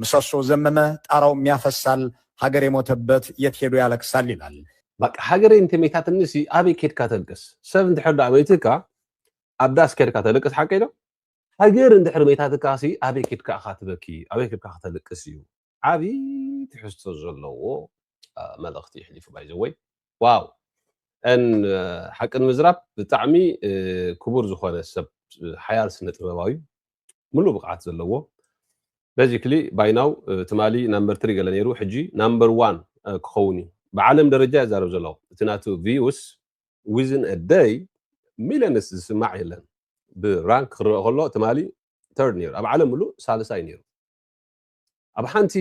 ምሰሶ ዘመመ ጣራው ሚያፈሳል ሃገር የሞተበት የት ሄዶ ያለቅሳል ይላል። በቃ ሃገረይ እንተ መይታትኒሲ ኣበይ ኬድካ ተልቅስ ሰብ እንድሕር ደኣ መይትካ ኣብ ዳስ ኬድካ ተልቅስ ሓቀይ ዶ ሃገር እንድሕር መይታትካሲ ኣበይ ኬድካ እኻ ትበኪ ኣበይ ኬድካ ከተልቅስ እዩ ዓቢ ትሕዝቶ ዘለዎ መልእኽቲ የሕሊፉ ባይ ዘ ወይ ዋው ሓቂ ንምዝራብ ብጣዕሚ ክቡር ዝኾነ ሰብ ሓያል ስነ ጥበባዊ ምሉእ ብቕዓት ዘለዎ በዚክሊ ባይ ናው ትማሊ ናምበር ትሪ ገለ ነይሩ ሕጂ ናምበር ዋን ክኸውን እዩ ብዓለም ደረጃ ይዛረብ ዘሎ እቲ ናቱ ቪዩስ ዊዝን አ ደይ ሚልዮንስ ዝስማዕ የለን ብራንክ ክረአ ከሎ ትማሊ ተርድ ነይሩ ኣብ ዓለም ምሉእ ሳልሳይ ነይሩ ኣብ ሓንቲ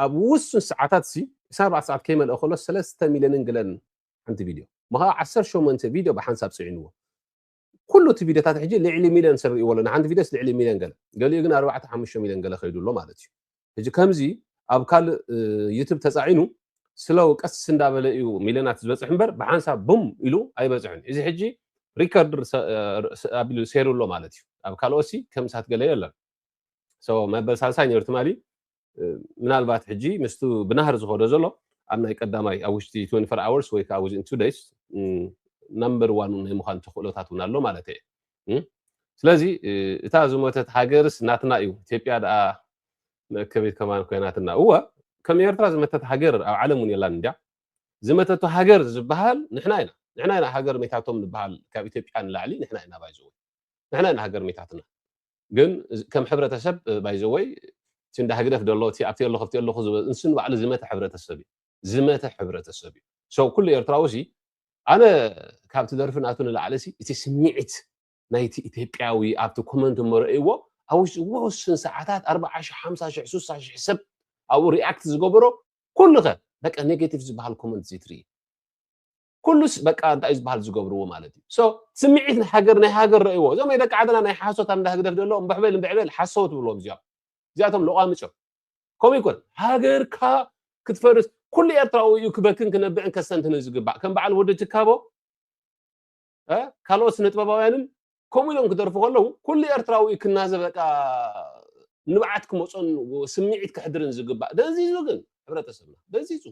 ኣብ ውሱን ሰዓታት ሲ እሳ ኣርባዕተ ሰዓት ከይመልአ ከሎ ሰለስተ ሚልዮንን ገለን ሓንቲ ቪድዮ ምኸ ዓሰርተ ሸሞንተ ቪድዮ ብሓንሳብ ፅዒንዎ ኩሉ እቲ ቪድዮታት ሕጂ ልዕሊ ሚልዮን ሰብ ርእይዎ ኣሎ ንሓንቲ ቪድዮስ ልዕሊ ሚልዮን ገለ ገሊኡ ግን ኣርባዕተ ሓሙሽተ ሚልዮን ገለ ከይዱ ኣሎ ማለት እዩ ሕጂ ከምዚ ኣብ ካልእ ዩቱብ ተጻዒኑ ስለው ቀስ እንዳበለ እዩ ሚልዮናት ዝበፅሕ እምበር ብሓንሳብ ቡም ኢሉ ኣይበፅሕን እዚ ሕጂ ሪከርድ ኣቢሉ ሴሩ ኣሎ ማለት እዩ ኣብ ካልኦሲ ከምሳት ገለ የለን ሶ መበል ሳልሳይ ነይሩ ትማሊ ምናልባት ሕጂ ምስቲ ብናህሪ ዝኸዶ ዘሎ ኣብ ናይ ቀዳማይ ኣብ ውሽጢ 24 ኣወርስ ወይ ከዓ ዊዝን ቱ ደይስ ናምበር ዋን ናይ ምዃን ተኽእሎታት እውን ኣሎ ማለት እየ ስለዚ እታ ዝሞተት ሃገርስ ናትና እዩ ኢትዮጵያ ደኣ መእከቢት ከማን ኮይናትና እወ ከም ኤርትራ ዝመተት ሃገር ኣብ ዓለም እውን የላን እንዲያ ዝመተቱ ሃገር ዝበሃል ንሕና ኢና ንሕና ኢና ሃገር ሜታቶም ንበሃል ካብ ኢትዮጵያ ንላዕሊ ንሕና ኢና ባይዘ ንሕና ኢና ሃገር ሜታትና ግን ከም ሕብረተሰብ ባይ ዘ ወይ እቲ እንዳ ህግደፍ ደሎ እቲ ኣብቲ ኣለኹ ኣብቲ ኣለኹ ዝበ ንሱ ንባዕሉ ዝመተ ሕብረተሰብ እዩ ዝመተ ሕብረተሰብ እዩ ሰው ኩሉ ኤርትራዊ ሲ ኣነ ካብቲ ደርፊ ናቱ ንላዕሊ ሲ እቲ ስምዒት ናይቲ ኢትዮጵያዊ ኣብቲ ኮመንት እሞ ረእይዎ ኣብ ውሽጢ ውስን ሰዓታት ኣርብዓ ሽሕ ሓምሳ ሽሕ ሱሳ ሽሕ ሰብ ኣብኡ ሪኣክት ዝገበሮ ኩሉ ከ በቃ ኔጌቲቭ ዝበሃል ኮመንት ዘይትርኢ ኩሉስ በቃ እንታይ እዩ ዝበሃል ዝገብርዎ ማለት እዩ ሶ ስምዒት ናይ ሃገር ናይ ሃገር ረእይዎ እዞም ናይ ደቂ ዓድና ናይ ሓሶት ኣብ እንዳ ህግደፍ ደሎ እምበሕበል እምበዕበል ሓሰው ትብልዎም እዚኦም እዚኣቶም ለቋምጭ እዮም ከምኡ ይኮን ሃገርካ ክትፈርስ ኩሉ ኤርትራዊ እዩ ክበክን ክነብዕን ከስተንትንን ዝግባእ ከም በዓል ወዲ ትካቦ ካልኦት ስነ ጥበባውያንን ከምኡ ኢሎም ክደርፉ ከለዉ ኩሉ ኤርትራዊ እዩ ክናዘብ በቃ ንብዓት ክመፆን ስምዒት ክሕድርን ዝግባእ ደንዚዙ ግን ሕብረተሰብና ደንዚዙ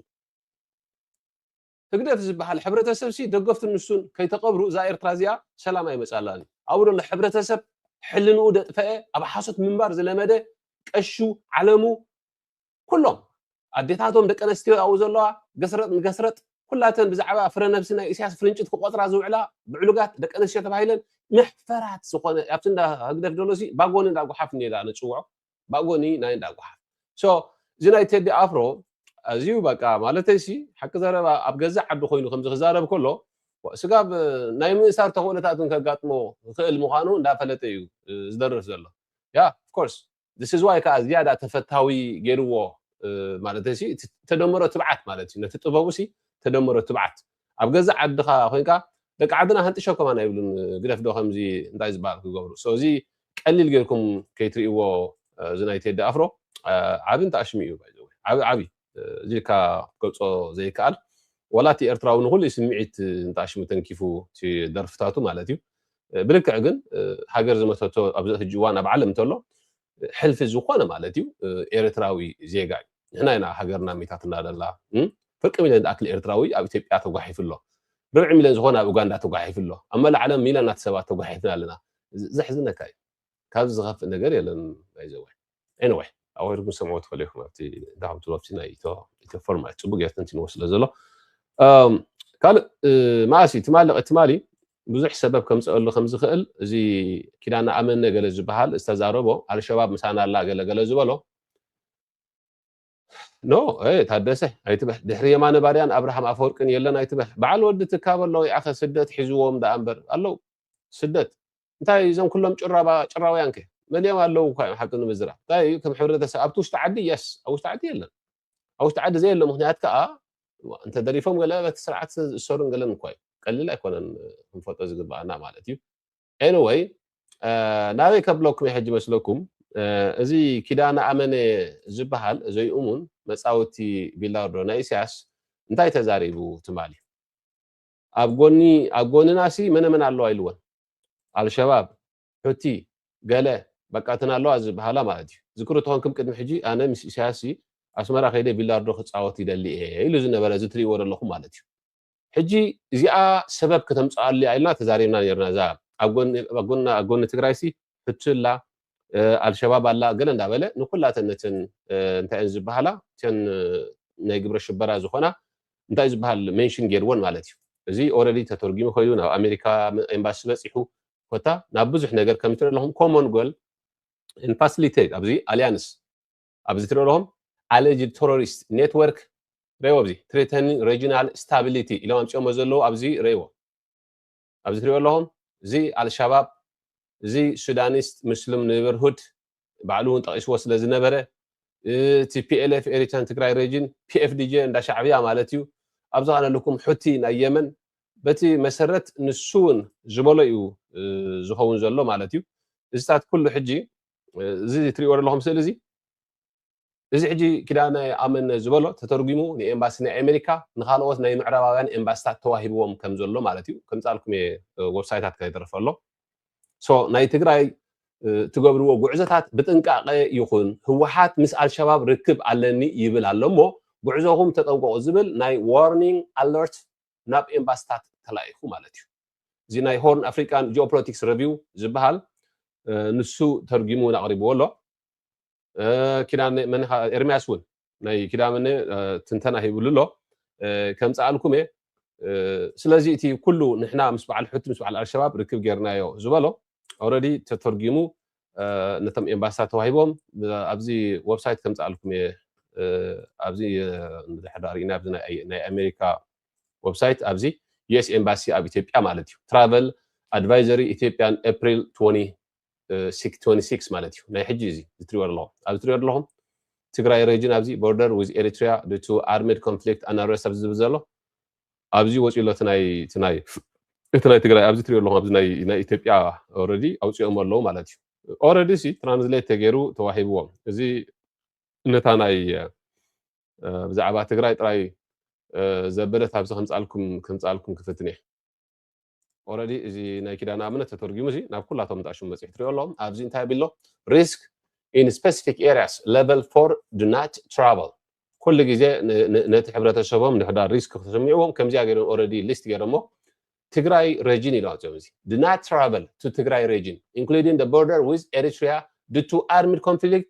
ህግደፍ ዝብሃል ሕብረተሰብሲ ደገፍቱን ንሱን ከይተቀብሩ እዛ ኤርትራ እዚኣ ሰላም ኣይመጻላን እዩ ኣብኡ ዘሎ ሕብረተሰብ ሕልንኡ ደጥፈኤ ኣብ ሓሶት ምንባር ዝለመደ ቀሹ ዓለሙ ኩሎም ኣዴታቶም ደቂ ኣንስትዮ ኣብኡ ዘለዋ ገስረጥ ንገስረጥ ኩላተን ብዛዕባ ፍረ ነብሲ ናይ ኢሳያስ ፍርንጭት ክቆጽራ ዝውዕላ ብዕሉጋት ደቂ ኣንስትዮ ተባሂለን መሕፈራት ዝኾነ ኣብቲ እንዳ ህግደፍ ደሎሲ ባጎኒ እንዳ ጉሓፍ እንዳ ንጽውዖ ባጎኒ ናይ እንዳ ጉሓፍ so እዚ ናይ ቴዲ ኣፍሮ ኣዝዩ በቃ ማለተይ ሲ ሓቂ ዘረባ ኣብ ገዛእ ዓዱ ኮይኑ ከምዚ ክዛረብ ከሎ ስጋብ ናይ ምእሳር ተኽእሎታት እውን ከጋጥሞ ይኽእል ምዃኑ እንዳፈለጠ እዩ ዝደርፍ ዘሎ ያ of course this is why ከዓ ዝያዳ ተፈታዊ ገይርዎ ማለተይ ሲ ተደምሮ ትብዓት ማለት እዩ ነቲ ጥበቡ ሲ ተደምሮ ትብዓት ኣብ ገዛእ ዓድካ ኮንካ ደቂ ዓድና ሃንጥሸ ኮማን ኣይብሉን ግደፍ ዶ ከምዚ እንታይ ዝባሃል ክገብሩ so እዚ ቀሊል ገርኩም ከይትሪእዎ እዚ ናይ ቴዲ ኣፍሮ ዓቢ እንተ ኣሽሚ እዩ by the way ዓቢ ዓቢ እዚ ኢልካ ክትገልጾ ዘይከኣል ዋላ እቲ ኤርትራዊ ንኩሉ እዩ ስምዒት እንተ ኣሽሚ ተንኪፉ እቲ ደርፍታቱ ማለት እዩ ብልክዕ ግን ሃገር ዝመሰረቶ ኣብዚ ሕጂ እዋን ኣብ ዓለም እንተሎ ሕልፊ ዝኾነ ማለት እዩ ኤርትራዊ ዜጋ እዩ ንሕና ኢና ሃገርና ሚታትና ደላ ፍርቂ ሚልዮን ዝኣክል ኤርትራዊ ኣብ ኢትዮጵያ ተጓሒፉ ኣሎ ርብዒ ሚልዮን ዝኾነ ኣብ ኡጋንዳ ተጓሒፉ ኣሎ ኣብ መላእ ዓለም ሚልዮናት ሰባት ተጓሒፍና ኣለና ዘሕዝነካ እዩ ካብዚ ዝኸፍእ ነገር የለን ናይዘወ ኤኒወይ ኣዋይድኩም ሰምዑ ትኽእሉ ኢኹም ኣብቲ ዳዕም ትሎብቲ ናይ ኢቶ ኢቶ ፎርም ማለት ጽቡቅ ጌርተን ትንዎ ስለ ዘሎ ካልእ መኣሲ ትማሊ ትማሊ ብዙሕ ሰበብ ከምፀኣሉ ከምዝኽእል እዚ ኪዳነ ኣመነ ገለ ዝበሃል ዝተዛረቦ ኣልሸባብ ምሳና ኣላ ገለ ገለ ዝበሎ ኖ ታደሰ ኣይትበል ድሕሪ የማነ ባርያን ኣብርሃም ኣፈወርቅን የለን ኣይትበል በዓል ወዲ ትካበ ኣለዉ ይኣኸ ስደት ሒዝዎም ደኣ እምበር ኣለዉ ስደት እንታይ እዞም ኩሎም ጭራባ ጭራውያን ከ መሊኦም ኣለዉ እኳ እዮም ሓቂ ንምዝራብ እንታይ እዩ ከም ሕብረተሰብ ኣብቲ ውሽጢ ዓዲ የስ ኣብ ውሽጢ ዓዲ የለን ኣብ ውሽጢ ዓዲ ዘየሎ ምክንያት ከኣ እንተደሪፎም ገለ በቲ ስርዓት ዝእሰሩን ገለን እኳ እዩ ቀሊል ኣይኮነን ክንፈልጦ ዝግብኣና ማለት እዩ ኤኒወይ ናበይ ከብለኩም ሕጂ መስለኩም እዚ ኪዳነ ኣመነ ዝበሃል ዘይእሙን መፃወቲ ቢላርዶ ናይ ኢሳያስ እንታይ ተዛሪቡ ትማሊ ኣብ ጎኒ ኣብ ጎንና ሲ መነ መን ኣለዋ ኢልወን ኣልሸባብ ሑቲ ገለ በቃተን ኣለዋ ዝበሃላ ማለት እዩ። ዝክሩ ተኾንክም ቅድሚ ሕጂ ኣነ ምስ ኢሳያስሲ ኣስመራ ከይደ ቢላርዶ ክጻወት ይደሊ እየ ኢሉ ዝነበረ እዚ ትሪእዎ ደለኹም ማለት እዩ። ሕጂ እዚኣ ሰበብ ከተምጽኣሉ እያ ኢልና ተዛሪብና ኔርና እዛ ኣብ ጎኒ ኣብ ጎኒ ኣብ ጎኒ ትግራይሲ ሑቲ ኣላ ኣልሸባብ ኣላ ገለ እንዳበለ ንኩላተን ነተን እንታይ እየን ዝበሃላ እተን ናይ ግብረ ሽበራ ዝኾና እንታይ ዝበሃል ሜንሽን ጌርወን ማለት እዩ። እዚ ኦረዲ ተተርጊሙ ከይዱ ናብ ኣሜሪካ ኤምባሲ በጺሑ ኮታ ናብ ብዙሕ ነገር ከም ትርኢ ኣለኹም ኮመን ጎል ን ፋሲሊቴት ኣብዚ ኣሊያንስ ኣብዚ ትርኢ ኣለኹም ኣለጅድ ቴሮሪስት ኔትወርክ ረይዎ ኣብዚ ትሪተን ሬጂናል ስታቢሊቲ ኢሎም ኣምፅኦሞ ዘለዉ ኣብዚ ረይዎ ኣብዚ ትሪኦ ኣለኹም እዚ ኣልሻባብ እዚ ሱዳኒስት ሙስሊም ኔበርሁድ ባዕሉ እውን ጠቒስዎ ስለ ዝነበረ እቲ ፒኤልኤፍ ኤሪትራን ትግራይ ሬጅን ፒኤፍዲጄ እንዳ ሻዕብያ ማለት እዩ ኣብ ዝኻነልኩም ሑቲ ናይ የመን በቲ መሰረት ንሱ እውን ዝበሎ እዩ ዝኸውን ዘሎ ማለት እዩ እዚታት ኩሉ ሕጂ እዚ ትሪእዎ ዘለኹም ስእሊ እዚ እዚ ሕጂ ኪዳነ ኣመነ ዝበሎ ተተርጉሙ ንኤምባሲ ናይ ኣሜሪካ ንካልኦት ናይ ምዕራባውያን ኤምባሲታት ተዋሂብዎም ከም ዘሎ ማለት እዩ ከምጻልኩም እየ ወብሳይታት ከይተረፈ ኣሎ ሶ ናይ ትግራይ ትገብርዎ ጉዕዘታት ብጥንቃቐ ይኹን ህወሓት ምስ ኣልሸባብ ርክብ ኣለኒ ይብል ኣሎ እሞ ጉዕዞኹም ተጠንቀቑ ዝብል ናይ ዋርኒንግ ኣለርት ናብ ኤምባሲታት ተላኢኹ ማለት እዩ እዚ ናይ ሆርን ኣፍሪካን ጂኦፖለቲክስ ረቪው ዝበሃል ንሱ ተርጊሙ ኣቕሪብዎ ኣሎ ኪዳነ መን ኢኻ ኤርምያስ እውን ናይ ኪዳነ ትንተና ሂብሉ ኣሎ ከምፀኣልኩም እየ ስለዚ እቲ ኩሉ ንሕና ምስ በዓል ሑቲ ምስ በዓል ኣልሸባብ ርክብ ጌርናዮ ዝበሎ ኦረዲ ተተርጊሙ ነቶም ኤምባሲታት ተዋሂቦም ኣብዚ ወብሳይት ከምፃኣልኩም እየ ኣብዚ ድሕዳ ርኢና ኣብዚ ናይ ኣሜሪካ ወብሳይት ኣብዚ ዩኤስ ኤምባሲ ኣብ ኢትዮጵያ ማለት እዩ ትራቨል ኣድቫይዘሪ ኢትዮጵያን ኤፕሪል 20 26 ማለት እዩ ናይ ሕጂ እዚ ዝትሪዎ ኣለኹም ኣብ ዝትሪዎ ኣለኹም ትግራይ ሬጅን ኣብዚ ቦርደር ዊዝ ኤሪትሪያ ድቱ ኣርሜድ ኮንፍሊክት ኣናረስ ኣብዚ ዝብል ዘሎ ኣብዚ ወፂኡ ኣሎ እቲ ናይ እቲ ናይ እቲ ናይ ትግራይ ኣብዚ ትሪኦ ኣለኹም ኣብዚ ናይ ኢትዮጵያ ኦረዲ ኣውፂኦም ኣለዉ ማለት እዩ ኦረዲ ሲ ትራንስሌት ተገይሩ ተዋሂብዎም እዚ ነታ ናይ ብዛዕባ ትግራይ ጥራይ ዘበለት ኣብዚ ከምፃልኩም ከምፃልኩም ክፍትን እየ ኦረዲ እዚ ናይ ኪዳነ ኣብነት ተተርጊሙ እዚ ናብ ኩላቶም እንዳ ሹም መፅሒ ትሪኦ ኣሎ ኣብዚ እንታይ ቢሎ ሪስክ ኢን ስፔሲፊክ ኤሪያስ ሌቨል ፎር ዱ ናት ትራቨል ኩሉ ግዜ ነቲ ሕብረተሰቦም ንሕዳር ሪስክ ክስምዕዎም ከምዚኣ ገይሮም ኦረዲ ሊስት ገይሮሞ ትግራይ ሬጂን ኢሎም ኣፅኦም እዚ ዱ ናት ትራቨል ቱ ትግራይ ሬጂን ኢንክሉዲንግ ደ ቦርደር ዊዝ ኤሪትሪያ ዱ ቱ ኣርሚድ ኮንፍሊክት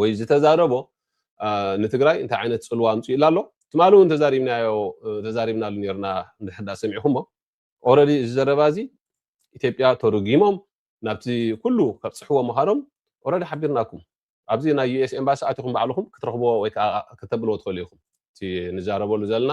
ወይ ዝተዛረቦ ንትግራይ እንታይ ዓይነት ፅልዋ ኣምፂኡላ ኣሎ ትማሊ እውን ተዛሪብናዮ ተዛሪብናሉ ነርና እንድሕር ዳ ሰሚዕኹሞ ኦረዲ እዚ ዘረባ እዚ ኢትዮጵያ ተርጊሞም ናብቲ ኩሉ ከብፅሕዎ ምዃኖም ኦረዲ ሓቢርናኩም ኣብዚ ናይ ዩኤስ ኤምባሲ ኣቲኹም ባዕልኹም ክትረኽብዎ ወይ ከዓ ከተብልዎ ትኽእሉ ኢኹም እቲ ንዛረበሉ ዘለና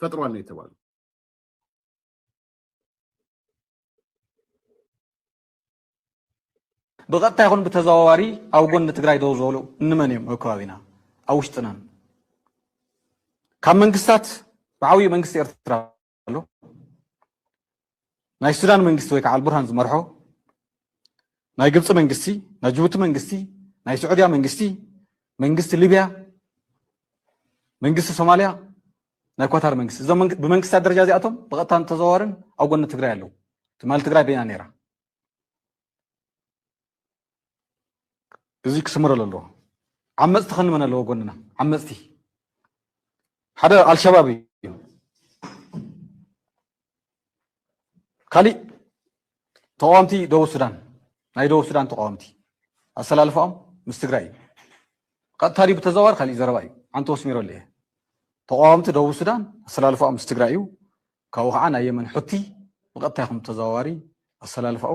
ፈጥሯል ነው የተባለው። ብቐጥታ ይኹን ብተዘዋዋሪ ኣብ ጎኒ ትግራይ ደው ዝበሉ እንመን እዮም? ኣብ ከባቢና ኣብ ውሽጥናን ካብ መንግስታት ብዓብዩ መንግስቲ ኤርትራ ኣሎ ናይ ሱዳን መንግስቲ ወይ ከዓ ኣልቡርሃን ዝመርሖ ናይ ግብፂ መንግስቲ ናይ ጅቡቲ መንግስቲ ናይ ስዑድያ መንግስቲ መንግስቲ ሊብያ መንግስቲ ሶማልያ ናይ ኳታር መንግስቲ እዞም ብመንግስታት ደረጃ እዚኣቶም ብቐጥታን ተዘዋዋርን ኣብ ጎኒ ትግራይ ኣለዉ ትማሊ ትግራይ በይና ነይራ እዚ ክስምረሉ ኣለዎ ዓመፅቲ ከንመን ኣለዎ ጎንና ዓመፅቲ ሓደ ኣልሸባብ እዩ ካሊእ ተቃዋምቲ ደቡብ ሱዳን ናይ ደቡብ ሱዳን ተቃዋምቲ ኣሰላልፋኦም ምስ ትግራይ እዩ ቀጥታ ድዩ ብተዘዋዋሪ ካሊእ ዘረባ እዩ ዓንቲ ወስሚረሉ እየ ተቃዋምቲ ደቡብ ሱዳን ኣሰላልፋኦም ምስ ትግራይ እዩ ካብኡ ከዓ ናይ የመን ሑቲ ብቀጥታ ይኹን ተዘዋዋሪ ኣሰላልፋኡ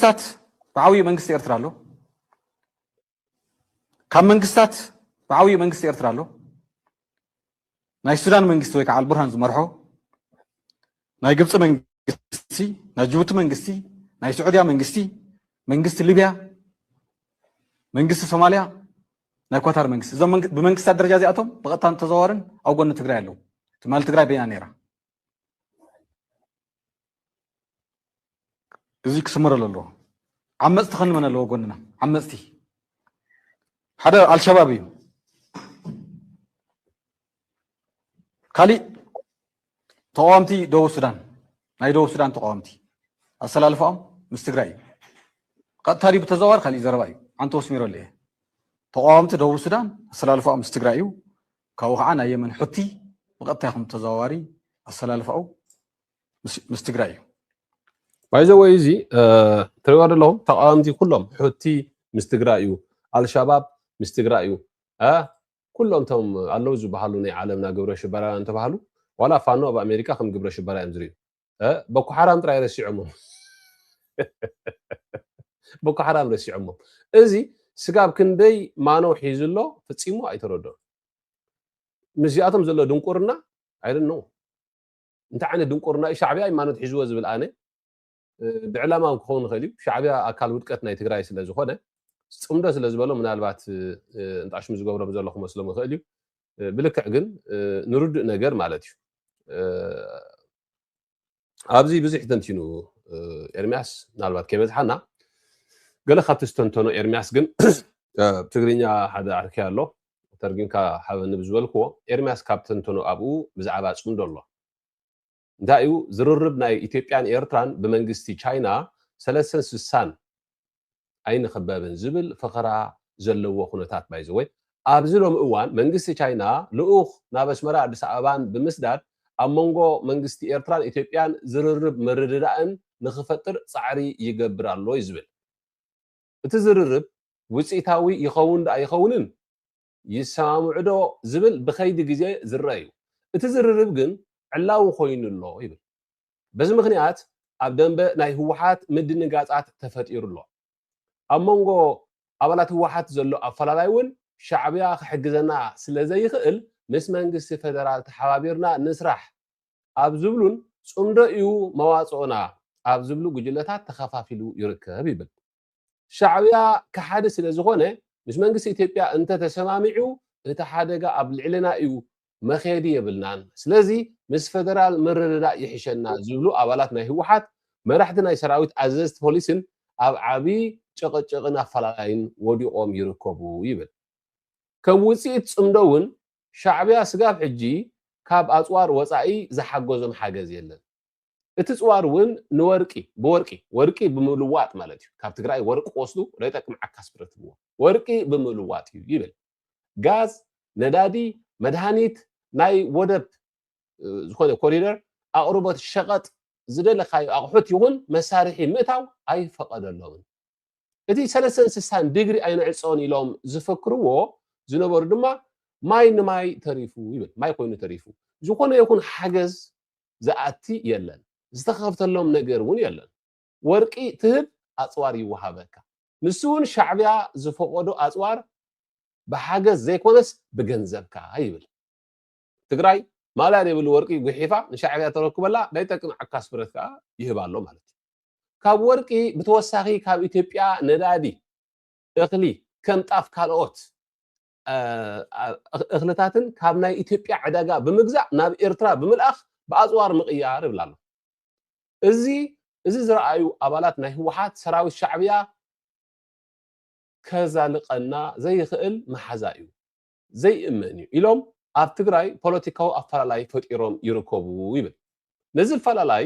መንግስታት ብዓብዩ መንግስቲ ኤርትራ ኣሎ ካብ መንግስታት ብዓብዩ መንግስቲ ኤርትራ ኣሎ ናይ ሱዳን መንግስቲ ወይ ከዓ ኣልቡርሃን ዝመርሖ ናይ ግብፂ መንግስቲ ናይ ጅቡቲ መንግስቲ ናይ ስዑድያ መንግስቲ መንግስቲ ሊብያ መንግስቲ ሶማልያ ናይ ኳታር መንግስቲ እዞም ብመንግስታት ደረጃ እዚኣቶም ብቐጥታን ተዘዋዋርን ኣብ ጎኒ ትግራይ ኣለዉ ትማሊ ትግራይ በይና ነይራ እዚ ክስመረሉ ኣለዎ። ዓመፅቲ ከንመን ኣለዎ ጎንና ዓመፅቲ ሓደ ኣልሸባብ እዩ። ካሊእ ተቃዋምቲ ደቡብ ሱዳን ናይ ደቡብ ሱዳን ተቃዋምቲ ኣሰላልፋኦም ምስ ትግራይ እዩ። ቀጥታ ድዩ ብተዘዋዋሪ ካሊእ ዘረባ እዩ። ዓንተ ወስሚረሉ እየ። ተቃዋምቲ ደቡብ ሱዳን ኣሰላልፋኦም ምስ ትግራይ እዩ። ካብኡ ከዓ ናይ የመን ሑቲ ብቀጥታ ይኹን ብተዘዋዋሪ ኣሰላልፋኡ ምስ ትግራይ እዩ። ባይዘወይ እዚ ትሪእዎ ዘለኹም ተቃወምቲ ኩሎም ሑቲ ምስ ትግራይ እዩ፣ ኣልሻባብ ምስ ትግራይ እዩ፣ ኩሎም እቶም ኣለው ዝበሃሉ ናይ ዓለምና ግብረ ሽበራውያን ዝተባሃሉ ዋላ ፋኖ ኣብ ኣሜሪካ ከም ግብረ ሽበራ እዮም ዝርእዩ። ቦኮ ሓራም ጥራይ ረሲዖሞም ቦኮ ሓራም ረሲዖሞም እዚ ስጋብ ክንደይ ማኖ ሒዙ ኣሎ ፈፂሙ ኣይተረድኦን ምስዚኣቶም ዘሎ ድንቁርና ኣይደኖ እንታይ ዓይነት ድንቁርና እዩ ሻዕብያ እዩ ማኖት ሒዝዎ ዝብል ኣነ ብዕላማ እውን ክኸውን ይኽእል እዩ ሻዕብያ ኣካል ውድቀት ናይ ትግራይ ስለ ዝኾነ ፅምዶ ስለ ዝበሎ ምናልባት እንጣሽሙ ዝገብሮም ዘሎ ክመስሎም ይኽእል እዩ ብልክዕ ግን ንርዱእ ነገር ማለት እዩ ኣብዚ ብዙሕ ተንቲኑ ኤርሚያስ ምናልባት ከይበዝሓና ገለ ካብቲ ዝተንተኖ ኤርሚያስ ግን ትግርኛ ሓደ ኣርኪ ኣሎ ተርጊምካ ሓበኒ ብዝበልክዎ ኤርሚያስ ካብ ተንተኖ ኣብኡ ብዛዕባ ፅምዶ ኣሎ እንታይ እዩ ዝርርብ ናይ ኢትዮጵያን ኤርትራን ብመንግስቲ ቻይና ሰለሰን ስሳን ኣይንኽበብን ዝብል ፈኸራ ዘለዎ ኩነታት ባይዘወይ ኣብዚ ሎሚ እዋን መንግስቲ ቻይና ልኡኽ ናብ ኣስመራ ኣዲስ ኣበባን ብምስዳድ ኣብ መንጎ መንግስቲ ኤርትራን ኢትዮጵያን ዝርርብ ምርድዳእን ንኽፈጥር ጻዕሪ ይገብር ኣሎ እዩ ዝብል እቲ ዝርርብ ውጽኢታዊ ይኸውን ድኣ ይኸውንን ይሰማምዑዶ ዝብል ብከይዲ ግዜ ዝረኣ እዩ። እቲ ዝርርብ ግን ዕላዊ ኮይኑ ኣሎ ይብል። በዚ ምኽንያት ኣብ ደምበ ናይ ህወሓት ምድንጋፃት ተፈጢሩ ኣሎ። ኣብ መንጎ ኣባላት ህወሓት ዘሎ ኣፈላላይ እውን ሻዕቢያ ክሕግዘና ስለዘይኽእል ምስ መንግስቲ ፌደራል ተሓባቢርና ንስራሕ ኣብ ዝብሉን ፅምዶ እዩ መዋፅኦና ኣብ ዝብሉ ጉጅለታት ተኸፋፊሉ ይርከብ ይብል። ሻዕብያ ከሓዲ ስለ ዝኾነ ምስ መንግስቲ ኢትዮጵያ እንተ ተሰማሚዑ እቲ ሓደጋ ኣብ ልዕልና እዩ መኼዲ የብልናን ስለዚ ምስ ፈደራል ምርድዳእ ይሕሸና ዝብሉ ኣባላት ናይ ህወሓት መራሕቲ ናይ ሰራዊት ኣዘዝቲ ፖሊስን ኣብ ዓቢ ጭቕጭቕን ኣፈላላይን ወዲቖም ይርከቡ ይብል። ከም ውጽኢት ጽምዶ እውን ሻዕብያ ስጋብ ሕጂ ካብ ኣጽዋር ወጻኢ ዝሓገዞም ሓገዝ የለን። እቲ ፅዋር እውን ንወርቂ ብወርቂ ወርቂ ብምልዋጥ ማለት እዩ ካብ ትግራይ ወርቂ ወስዱ ለይጠቅም ዓካስ ብረትብዎ ወርቂ ብምልዋጥ እዩ ይብል ጋዝ ነዳዲ መድሃኒት ናይ ወደብ ዝኾነ ኮሪደር ኣቕርቦት ሸቐጥ ዝደለካዩ ኣቑሑት ይኹን መሳርሒ ምእታው ኣይፈቐደሎምን እቲ ሰለስተን ስሳን ዲግሪ ኣይንዕፆን ኢሎም ዝፈክርዎ ዝነበሩ ድማ ማይ ንማይ ተሪፉ ይብል ማይ ኮይኑ ተሪፉ ዝኾነ ይኹን ሓገዝ ዝኣቲ የለን ዝተከፍተሎም ነገር ውን የለን ወርቂ ትህብ ኣጽዋር ይወሃበካ ንሱ ውን ሻዕብያ ዝፈቆዶ ኣጽዋር ብሓገዝ ዘይኮነስ ብገንዘብካ ይብል ትግራይ ማልያ ዘይብሉ ወርቂ ጉሒፋ ንሻዕብያ ተረክበላ ናይ ጠቅም ዓካስ ብረት ከኣ ይህብ ኣሎ ማለት እዩ ካብ ወርቂ ብተወሳኺ ካብ ኢትዮጵያ ነዳዲ እኽሊ ከም ጣፍ ካልኦት እኽልታትን ካብ ናይ ኢትዮጵያ ዕዳጋ ብምግዛእ ናብ ኤርትራ ብምልኣኽ ብኣፅዋር ምቕያር ይብል ኣሎ። እዚ እዚ ዝረኣዩ ኣባላት ናይ ህወሓት ሰራዊት ሻዕብያ ከዛልቀና ዘይኽእል መሓዛ እዩ፣ ዘይእመን እዩ ኢሎም ኣብ ትግራይ ፖለቲካዊ ኣፈላላይ ፈጢሮም ይርከቡ ይብል። ነዚ ኣፈላላይ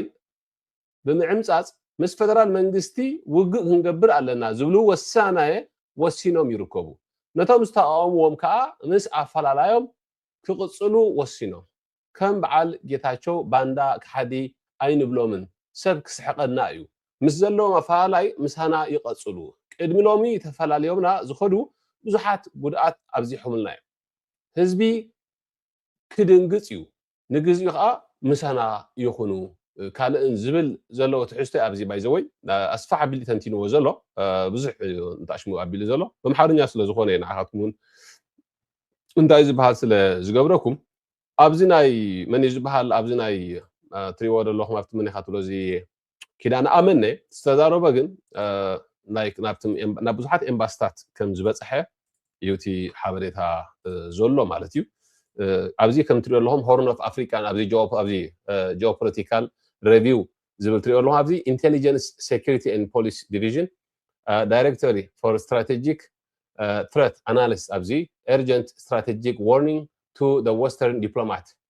ብምዕምጻጽ ምስ ፈደራል መንግስቲ ውግእ ክንገብር ኣለና ዝብሉ ወሳናየ ወሲኖም ይርከቡ። ነቶም ዝተቓወምዎም ከኣ ምስ ኣፈላላዮም ክቕጽሉ ወሲኖም። ከም በዓል ጌታቸው ባንዳ ከሓዲ ኣይንብሎምን ሰብ ክስሕቐና እዩ። ምስ ዘለዎም ኣፈላላይ ምሳና ይቐጽሉ። ቅድሚ ሎሚ ተፈላልዮምና ዝኸዱ ብዙሓት ጉድኣት ኣብዚሖምልና እዮም። ህዝቢ ክድንግጽ እዩ፣ ንግዚኡ ከኣ ምሳና ይኹኑ ካልእን ዝብል ዘለዎ ትሕዝቶ እዩ ኣብዚ ባይ ዘ ወይ ኣስፍሕ ኣቢሉ ተንቲንዎ ዘሎ ብዙሕ እዩ ንጣሽሙ ኣቢሉ ዘሎ በምሓርኛ ስለ ዝኾነ እዩ ንዓኻትኩም እውን እንታይ ዝበሃል ስለ ዝገብረኩም ኣብዚ ናይ መን እዩ ዝበሃል ኣብዚ ናይ ትሪዎ ዘለኹም ኣብቲ መን ኢኻ ትብሎ እዚ ኪዳነ ኣመነ ዝተዛረቦ ግን ናብ ብዙሓት ኤምባስታት ከም ዝበፅሐ እዩ እቲ ሓበሬታ ዘሎ ማለት እዩ ኣብዚ ከም ትሪኦ ኣለኹም ሆርን ኦፍ ኣፍሪካን ኣብዚ ጂኦፖለቲካል ሬቪው ዝብል ትሪኦ ኣለኹም ኣብዚ ኢንቴሊጀንስ ሴኪሪቲ ን ፖሊስ ዲቪዥን ዳይሬክቶሪ ፎር ስትራቴጂክ ትረት ኣናሊስ ኣብዚ ኤርጀንት ስትራቴጂክ ዋርኒንግ ቱ ወስተርን ዲፕሎማት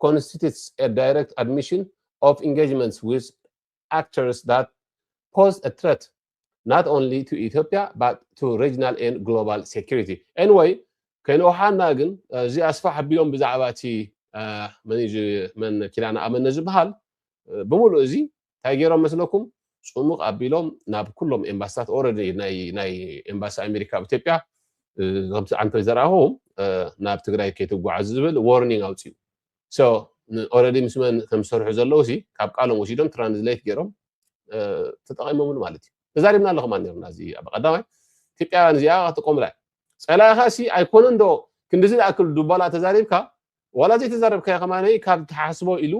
ኮንስቲትትስ ኤ ዳይረክት ኣድሚሽን ኦፍ ኢንገጅመንትስ ዊዝ ኣክተርስ ዛት ፖዝ ኤ ትረት ናት ኦንሊ ቱ ኢትዮጵያ ባት ቱ ሬጅናል ኤንድ ግሎባል ሴኩሪቲ ኤንወይ ከይንኦሓና ግን እዚ ኣስፋሕ ኣቢሎም ብዛዕባ እቲ መን ኪዳነ ኣመነ ዝበሃል ብምሉእ እዚ ታይ ገይሮም መስለኩም ፁሙቅ ኣቢሎም ናብ ኩሎም ኤምባስታት ኦረዲ ናይ ኤምባሲ ኣሜሪካ ኣብ ኢትዮጵያ ከምቲ ዓንተ ዘርኣኹ ናብ ትግራይ ከይትጓዓዙ ዝብል ዎርኒንግ ኣውፅኡ ሶ ኦረዲ ምስ መን ከም ዝሰርሑ ዘለዉ ሲ ካብ ቃሎም ወሲዶም ትራንስሌት ገይሮም ተጠቂሞምሉ ማለት እዩ ተዛሪብና ኣለኹም ኣኒርና እዚ ኣብ ቀዳማይ ኢትዮጵያውያን እዚኣ ክትቆምላ ፀላኢኻ ሲ ኣይኮነን ዶ ክንዲዚ ዝኣክል ዱባላ ተዛሪብካ ዋላ ዘይተዛረብካዮ ከማነይ ካብ ትሓስቦ ኢሉ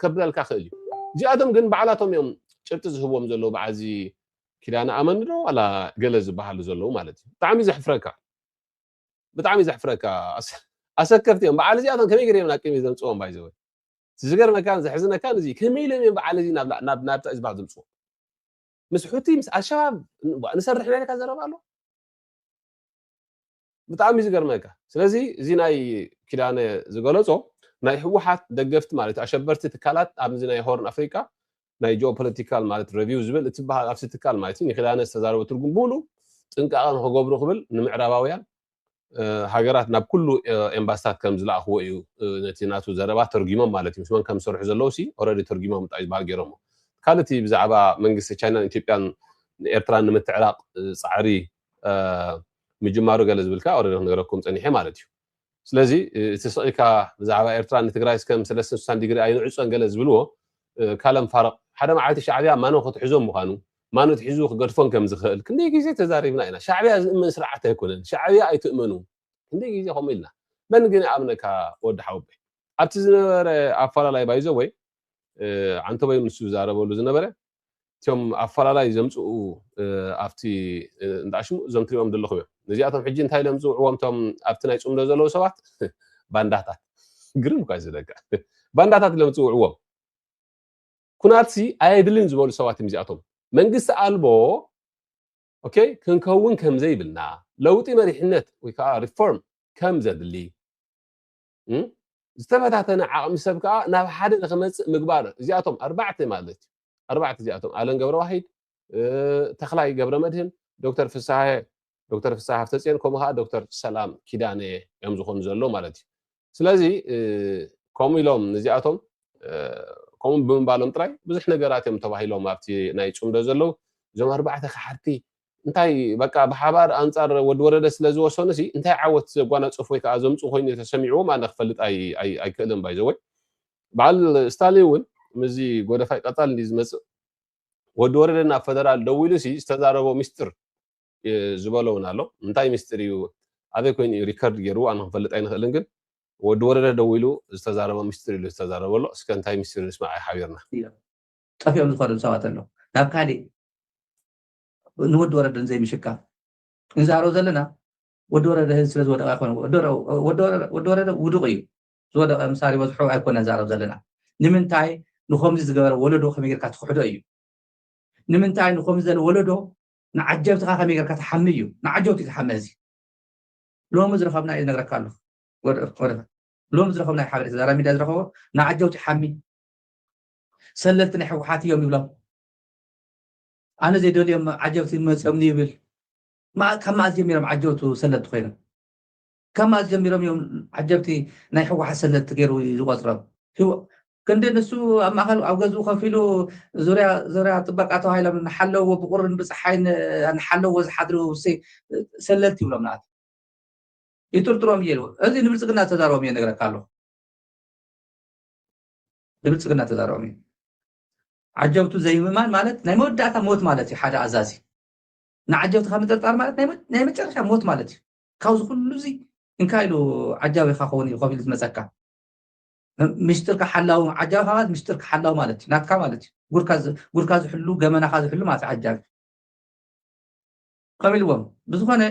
ከብለልካ ክእል እዩ እዚኣቶም ግን ባዕላቶም እዮም ጭብጢ ዝህብዎም ዘለዉ በዓል እዚ ኪዳነ ኣመን ዶ ዋላ ገለ ዝበሃሉ ዘለዉ ማለት እዩ ብጣዕሚ ዘሕፍረካ ብጣዕሚ ዘሕፍረካ ኣሰከፍቲ እዮም በዓል እዚኣቶም ከመይ ገይሮም ናብ ቅድሚ ዘምፅዎም ባይዘወ ዝገርመካን ዘሕዝነካን እዚ ከመይ ኢሎም እዮም በዓል እዚ ናብ ናብታ ዝበሃል ዘምፅዎ ምስ ሑቲ ምስ ኣልሸባብ ንሰርሕ ናይ ኢልካ ዘረባ ኣሎ ብጣዕሚ ዝገርመካ ስለዚ እዚ ናይ ኪዳነ ዝገለጾ ናይ ህወሓት ደገፍቲ ማለት ኣሸበርቲ ትካላት ኣብዚ ናይ ሆርን ኣፍሪቃ ናይ ጂኦ ፖለቲካል ማለት ረቪው ዝብል እትበሃል ኣብሲ ትካል ማለት እዩ ንኪዳነ ዝተዛረበ ትርጉም ብሉ ጥንቃቐ ንክገብሩ ክብል ንምዕራባውያን ሃገራት ናብ ኩሉ ኤምባስታት ከም ዝለኣኽዎ እዩ ነቲ ናቱ ዘረባ ተርጊሞም ማለት እዩ ምስ መን ከም ዝሰርሑ ዘለዉ ሲ ኦረዲ ተርጊሞም እንታይ ዝበሃል ገይሮሞ ካልእ እቲ ብዛዕባ መንግስቲ ቻይናን ኢትዮጵያን ንኤርትራ ንምትዕራቕ ፃዕሪ ምጅማሩ ገለ ዝብል ከኣ ኦረዲ ክንገረኩም ጸኒሐ ማለት እዩ ስለዚ እቲ ስቂካ ብዛዕባ ኤርትራ ንትግራይ እስከም ሰለስትን ስሳን ዲግሪ ኣይንዕጾን ገለ ዝብልዎ ካለም ፋረቅ ሓደ መዓልቲ ሻዕብያ ማኖ ክትሕዞም ምዃኑ ማኖ ትሒዙ ክገድፎን ከም ዝኽእል ክንደይ ግዜ ተዛሪብና ኢና ሻዕብያ ዝእመን ስርዓት ኣይኮነን ሻዕብያ ኣይትእመኑ ክንደይ ግዜ ከምኡ ኢልና መን ግን ይኣምነካ ወዲ ሓወበይ ኣብቲ ዝነበረ ኣፈላላይ ባይዘወይ ዓንተበይ ንሱ ዝዛረበሉ ዝነበረ እቲም ኣፈላላይ ዘምጽኡ ኣብቲ እንዳ ሽሙ እዞም ትሪኦም ዘለኹም እዮም ነዚኣቶም ሕጂ እንታይ ኢሎም ዝጽውዕዎም እቶም ኣብቲ ናይ ጽምዶ ዘለዉ ሰባት ባንዳታት ግርም እኳ ዝደጋ ባንዳታት ኢሎም ዝጽውዕዎም ኩናትሲ ኣየድልን ዝበሉ ሰባት እዮም እዚኣቶም መንግስቲ ኣልቦ ኦኬ ክንከውን ከም ዘይብልና ለውጢ መሪሕነት ወይ ከዓ ሪፎርም ከም ዘድሊ ዝተበታተነ ዓቕሚ ሰብ ከዓ ናብ ሓደ ንክመፅእ ምግባር እዚኣቶም ኣርባዕተ ማለት እዩ ኣርባዕተ እዚኣቶም ኣለን ገብረዋሂድ ተክላይ ገብረ መድህን ዶክተር ፍስሃ ዶክተር ፍስሃ ሃፍተፅዮን ከምኡ ከዓ ዶክተር ሰላም ኪዳነ እዮም ዝኾኑ ዘሎ ማለት እዩ ስለዚ ከምኡ ኢሎም ንዚኣቶም ከምኡ ብምባሎም ጥራይ ብዙሕ ነገራት እዮም ተባሂሎም ኣብቲ ናይ ፅምዶ ዘለዉ እዞም ኣርባዕተ ካሓድቲ እንታይ በቃ ብሓባር ኣንጻር ወዲ ወረደ ስለ ዝወሰኑሲ እንታይ ዓወት ዘጓናጽፉ ወይ ከኣ ዘምጽኡ ኮይኑ ተሰሚዕዎም ኣነ ክፈልጥ ኣይክእልን ባይዘወይ በዓል ስታሊን እውን ምስዚ ጎደፋይ ቀጻል እንዲ ዝመጽእ ወዲ ወረደ ናብ ፈደራል ደው ኢሉሲ ዝተዛረቦ ሚስጥር ዝበሎ እውን ኣሎ እንታይ ሚስጥር እዩ ኣበይ ኮይኑ እዩ ሪከርድ ገይሩ ኣነ ክንፈልጥ ኣይንኽእልን ግን ወዲ ወረደ ደው ኢሉ ዝተዛረቦ ሚስጥር ኢሉ ዝተዛረቦ ኣሎ እስከ እንታይ ሚስጥር ንስማዕ ሓቢርና ጠፊኦም ዝኸዱ ሰባት ኣሎ ናብ ካሊእ ንወዲ ወረደ ንዘይምሽካም ንዛረብ ዘለና ወዲ ወረደ ህዝቢ ስለዝወደቀ ኣይኮነ ወዲ ወረደ ውዱቅ እዩ ዝወደቀ ምሳሌ በዝሑ ኣይኮነ ንዛረብ ዘለና ንምንታይ ንከምዚ ዝገበረ ወለዶ ከመይ ጌርካ ትክሕዶ እዩ ንምንታይ ንከምዚ ዘለ ወለዶ ንዓጀብትኻ ከመይ ጌርካ ትሓሚ እዩ ንዓጀብቲ እዩ ዝሓመ እዚ ሎሚ ዝረኸብና እዩ ዝነግረካ ኣለኹ ሎሚ ዝረኸብና እዩ ሓበሬታ ዛራ ሚድያ ዝረኸቦ ንዓጀብቲ ሓሚ ሰለልቲ ናይ ሕወሓት እዮም ይብሎም ኣነ ዘይደልዮም ዓጀብቲ መጽዮምኒ ይብል መኣ ካብ መኣስ ጀሚሮም ዓጀብቱ ሰለቲ ኮይኖም ካብ መኣስ ጀሚሮም እዮም ዓጀብቲ ናይ ሕወሓት ሰለቲ ገይሩ ዝቆጽሮም ክንዲ ንሱ ኣብ ማእኸል ኣብ ገዝኡ ከፍ ኢሉ ዙርያ ዙርያ ጥበቃ ተባሂሎም ንሓለዎ ብቁርን ብፀሓይን ንሓለዎ ዝሓድሩ ሰለልቲ ይብሎም ንኣት ይጥርጥሮም እየ እዚ ንብልፅግና ተዛረቦም እየ ነግረካ ኣለኹ ንብልፅግና ተዛረቦም እዩ ዓጀብቱ ዘይምእማን ማለት ናይ መወዳእታ ሞት ማለት እዩ። ሓደ ኣዛዚ ንዓጀብትኻ ምጥርጣር ማለት ናይ መጨረሻ ሞት ማለት እዩ። ካብዚ ኩሉ እዚ እንካ ኢሉ ዓጃቢኻ ክኸውን እዩ ከቢሉ ዝመፀካ ምስጢርካ ሓላዊ ዓጃቢ ማለት ምስጢርካ ሓላዊ ማለት እዩ ናትካ ማለት እዩ ጉድካ ዝሕሉ ገመናካ ዝሕሉ ማለት እዩ ዓጃቢ ከም ኢልዎም ብዝኾነ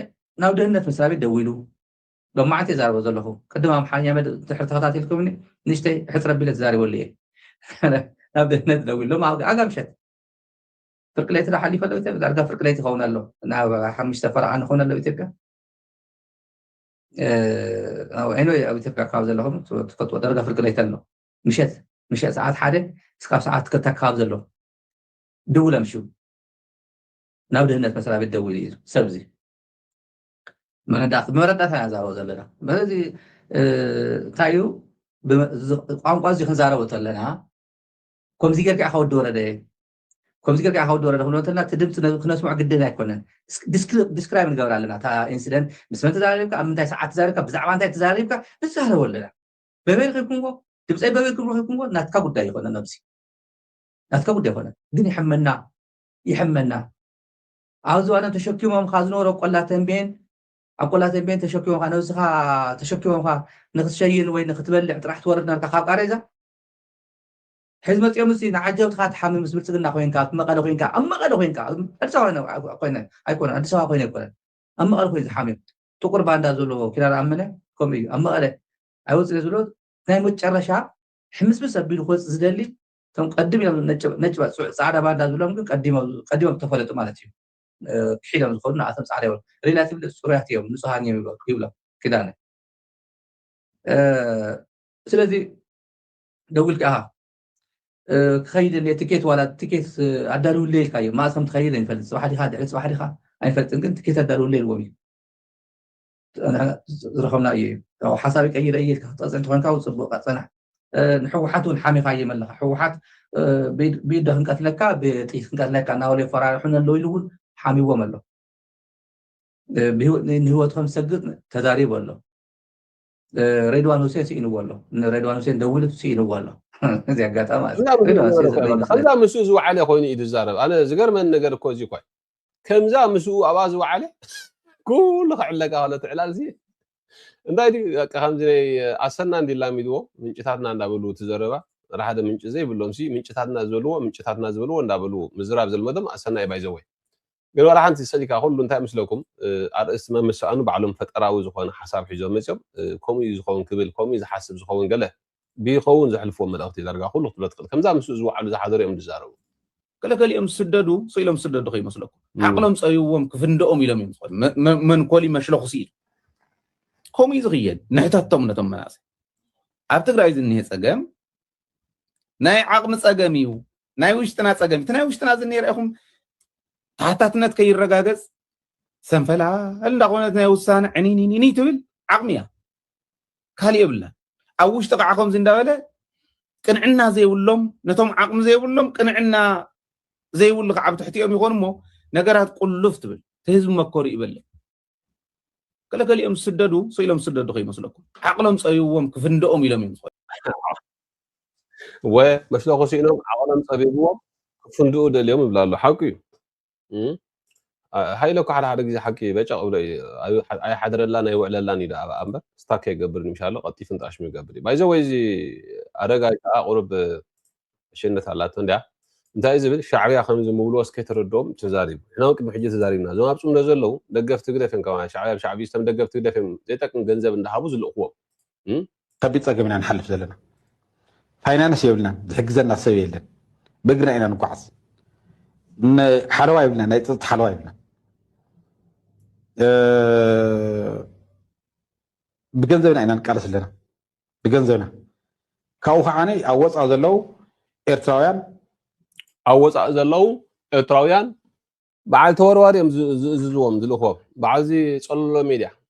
ናብ ድህነት መስራቤት ደዊሉ ሎሚ መዓልቲ እየ ዛረቦ ዘለኹ ቅድም ኣምሓርኛ መደብ ድሕሪ ተኸታቲልኩምኒ ንእሽተይ ሕፅር ኣቢለ ተዛሪበሉ እየ ናብ ድህነት ደዊ ሎም ኣጋ ምሸት ፍርቂ ለይቲ ዶ ሓሊፈ ኣሎ ኢትዮጵያ ዳርጋ ፍርቂ ለይቲ ይኸውን ኣሎ ናብ ሓሙሽተ ፈረቓ ንኸውን ኣሎ ኢትዮጵያ ዐይኖ ኣብ ኢትዮጵያ ካብ ዘለኹም ትፈልጥዎ ዳርጋ ፍርቂ ለይቲ ኣሎ ምሸት ምሸት ሰዓት ሓደ እስካብ ሰዓት ክልተ ኣካባቢ ዘሎ ድውል ኣምሽው ናብ ድህነት መስሪያ ቤት ደውል እዩ ሰብዚ ብመረዳእታ ኢና ንዛረቦ ዘለና መለዚ እንታይ እዩ ቋንቋ እዚ ክንዛረቦ ተለና ከምዚ ጌርካ ኢኻ ወዲ ወረደ ከምዚ ጌርካ ኢኻ ወዲ ወረደ ክንብሎ እንተለና እቲ ድምፂ ክነስምዖ ግድን ኣይኮነን ዲስክራይብ ንገብር ኣለና እታ ኢንሲደንት ምስ መን ተዛሪብካ ኣብ ምንታይ ሰዓት ተዛሪብካ ብዛዕባ እንታይ ተዛሪብካ ንዛረቦ ኣለና በበይ ረኺብኩምዎ ድምፀይ በበይ ክም ረኺብኩምዎ ናትካ ጉዳይ ይኮነ ነብዚ ናትካ ጉዳይ ይኮነ ግን ይሕመና ይሕመና ኣብዚ እዋን ተሸኪሞምኻ ዝነበሩ ቆላ ተምቤን ኣብ ቆላ ተምቤን ተሸኪሞምካ ነብስኻ ተሸኪሞምካ ንክትሸይን ወይ ንክትበልዕ ጥራሕ ትወርድ ነርካ ካብ ቃሬዛ ሕዚ መፂኦም ምስ ንዓጀብትኻ ትሓሚ ምስ ብልፅግና ኮይንካ ኣብ መቐለ ኮይንካ ኣብ መቐለ ኮይንካ ኣዲስ ኣበባ ኮይነ ኣይኮነ ኣዲስ ኣበባ ኮይነ ኣይኮነን ኣብ መቐለ ኮይኑ ዝሓምዮም ጥቁር ባንዳ ዘለዎ ኪዳን ኣመነ ከምኡ እዩ ኣብ መቐለ ኣይወፅእ ዝብሎ ናይ መጨረሻ ሕምስምስ ኣቢሉ ክወፅእ ዝደሊ እቶም ቀድም ኢሎም ነጭ ባ ጽዕ ጻዕዳ ባንዳ ዝብሎም ግን ቀዲሞም ቀዲሞም ተፈለጡ ማለት እዩ ክሒዶም ዝኸዱ ንኣቶም ጻዕዳ ይብሉ ሪላይ ትብል ጽሩያት እዮም ንጹሃን እዮም ይብሉ ይብሎም ኪዳነ ስለዚ ደውልካ ኢኻ ክኸይድ እኔ ትኬት ዋላ ትኬት ኣዳልውለይ ኢልካ እዮም መኣስ ከም ትኸይድ ኣይንፈልጥ ጽባሕ ዲኻ ድሕሪ ጽባሕ ዲኻ ኣይፈልጥን ግን ትኬት ኣዳልውለይ ኢልዎም እዩ ዝረኸብና እዩ እዩ ሓሳብ ቀይረ እየ ኢልካ ክትቀፅዕ እንተኮንካ ው ፅቡቅ ፀናሕ ንሕወሓት እውን ሓሚኻዮም ኣለካ ሕወሓት ብኢደ ክንቀትለካ ብጥይት ክንቀትለካ እናበሉ የፈራርሑን ኣለዉ ኢሉ እውን ሓሚዎም ኣሎ ንህይወት ከም ዝሰግጥ ተዛሪቡ ኣሎ ሬድዋን ሁሴን ስኢንዎ ኣሎ ንሬድዋን ሁሴን ደዊሉ ስኢንዎ ኣሎ እዚ ኣጋጣሚ ከምዛ ምስኡ ዝወዓለ ኮይኑ እዩ ዝዛረብ ኣነ ዝገርመን ነገር እኮ እዚ እኳ ከምዛ ምስኡ ኣብኣ ዝወዓለ ኩሉ ክዕለቃ ከሎ ትዕላል ሲ እንታይ ድዩ በቃ ከምዚ ናይ ኣሰና እንዲ ላሚድዎ ምንጭታትና እንዳበሉ እቲ ዘረባ ራሓደ ምንጭ ዘይብሎም ሲ ምንጭታትና ዝበልዎ ምንጭታትና ዝበልዎ እንዳበሉ ምዝራብ ዘልመዶም ኣሰና እዩ ባይዘወይ ግን ወላ ሓንቲ ሰሊካ ኩሉ እንታይ ምስለኩም ኣርእስቲ መምሰኣኑ ባዕሎም ፈጠራዊ ዝኾነ ሓሳብ ሒዞም መፅኦም ከምኡ እዩ ዝኸውን ክብል ከምኡ እዩ ዝሓስብ ዝኸውን ገለ ብይኸውን ዘሕልፍዎ መልእኽቲ ዳርጋ ኩሉ ክትብሎ ትኽእል ከምዛ ምስኡ ዝወዓሉ ዝሓደሩ እዮም ዝዛረቡ ገለ ገሊኦም ዝስደዱ ስኢሎም ዝስደዱ ከይመስለኩም ዓቕሎም ፀብዎም ክፍንደኦም ኢሎም እዮም ዝኾኑ መንኮሊ መሽለኹሲ ኢሉ ከምኡ እዩ ዝኽየድ ንሕተቶም ነቶም መናእሰይ ኣብ ትግራይ ዝኒሀ ፀገም ናይ ዓቕሚ ፀገም እዩ ናይ ውሽጥና ፀገም እቲ ናይ ውሽጥና ዝኒሄ ርኢኹም ተሓታትነት ከይረጋገፅ ሰንፈላ እንዳኾነት ናይ ውሳነ ዕኒኒኒኒ ትብል ዓቕሚ እያ ካልእ የብላን ኣብ ውሽጢ ከዓ ከምዚ እንዳበለ ቅንዕና ዘይብሎም ነቶም ዓቕሚ ዘይብሎም ቅንዕና ዘይብሉ ከዓ ኣብ ትሕቲኦም ይኾኑ እሞ ነገራት ቁልፍ ትብል እቲ ህዝቢ መከሩ ይበለ ገለገሊኦም ዝስደዱ ስኢሎም ዝስደዱ ከይመስለኩም ዓቕሎም ፀቢብዎም ክፍንደኦም ኢሎም እዮም ዝኾኑ ወ መስለኹ ስኢኖም ዓቕሎም ፀቢብዎም ክፍንድኡ ደልዮም ይብላ ኣሎ ሓቂ እዩ ሃይለ እኳ ሓደ ሓደ ግዜ ሓቂ በጨቕ ብሎ እዩ ኣይሓድረላን ኣይውዕለላን እዩ ደኣ እምበር ስታክ ከይገብር ንምሻሎ ቀልጢፉ ንጣሽሙ ይገብር እዩ ባይዘ ወይ እዚ ኣረጋይ ከዓ ቁሩብ ሽነት ኣላቶ እንድያ እንታይ እዩ ዝብል ሻዕብያ ከምዚ ምብልዎ እስከ ተረድኦም ተዛሪቡ ንሕና እውን ቅድሚ ሕጂ ተዛሪብና እዞም ኣብ ፅምዶ ዘለዉ ደገፍቲ ህግደፍ እዮም ካብ ሻዕብያ ብሻዕብዩ ዝተም ደገፍቲ ህግደፍ እዮም ዘይጠቅም ገንዘብ እንዳሃቡ ዝልእኽዎም ከቢድ ፀገም ኢና ንሓልፍ ዘለና ፋይናንስ የብልናን ዝሕግዘና ሰብ የለን በእግርና ኢና ንጓዓዝ ሓለዋ የብልና ናይ ፀጥታ ሓለዋ የብልና ብገንዘብና ኢና ንቃለስ ኣለና ብገንዘብና ካብኡ ከዓ ኣብ ወፃእ ዘለው ኤርትራውያን ኣብ ወፃእ ዘለው ኤርትራውያን በዓል ተወርዋሪ እዮም ዝእዝዝዎም ዝልእኽዎም በዓል እዚ ፀለሎ ሜድያ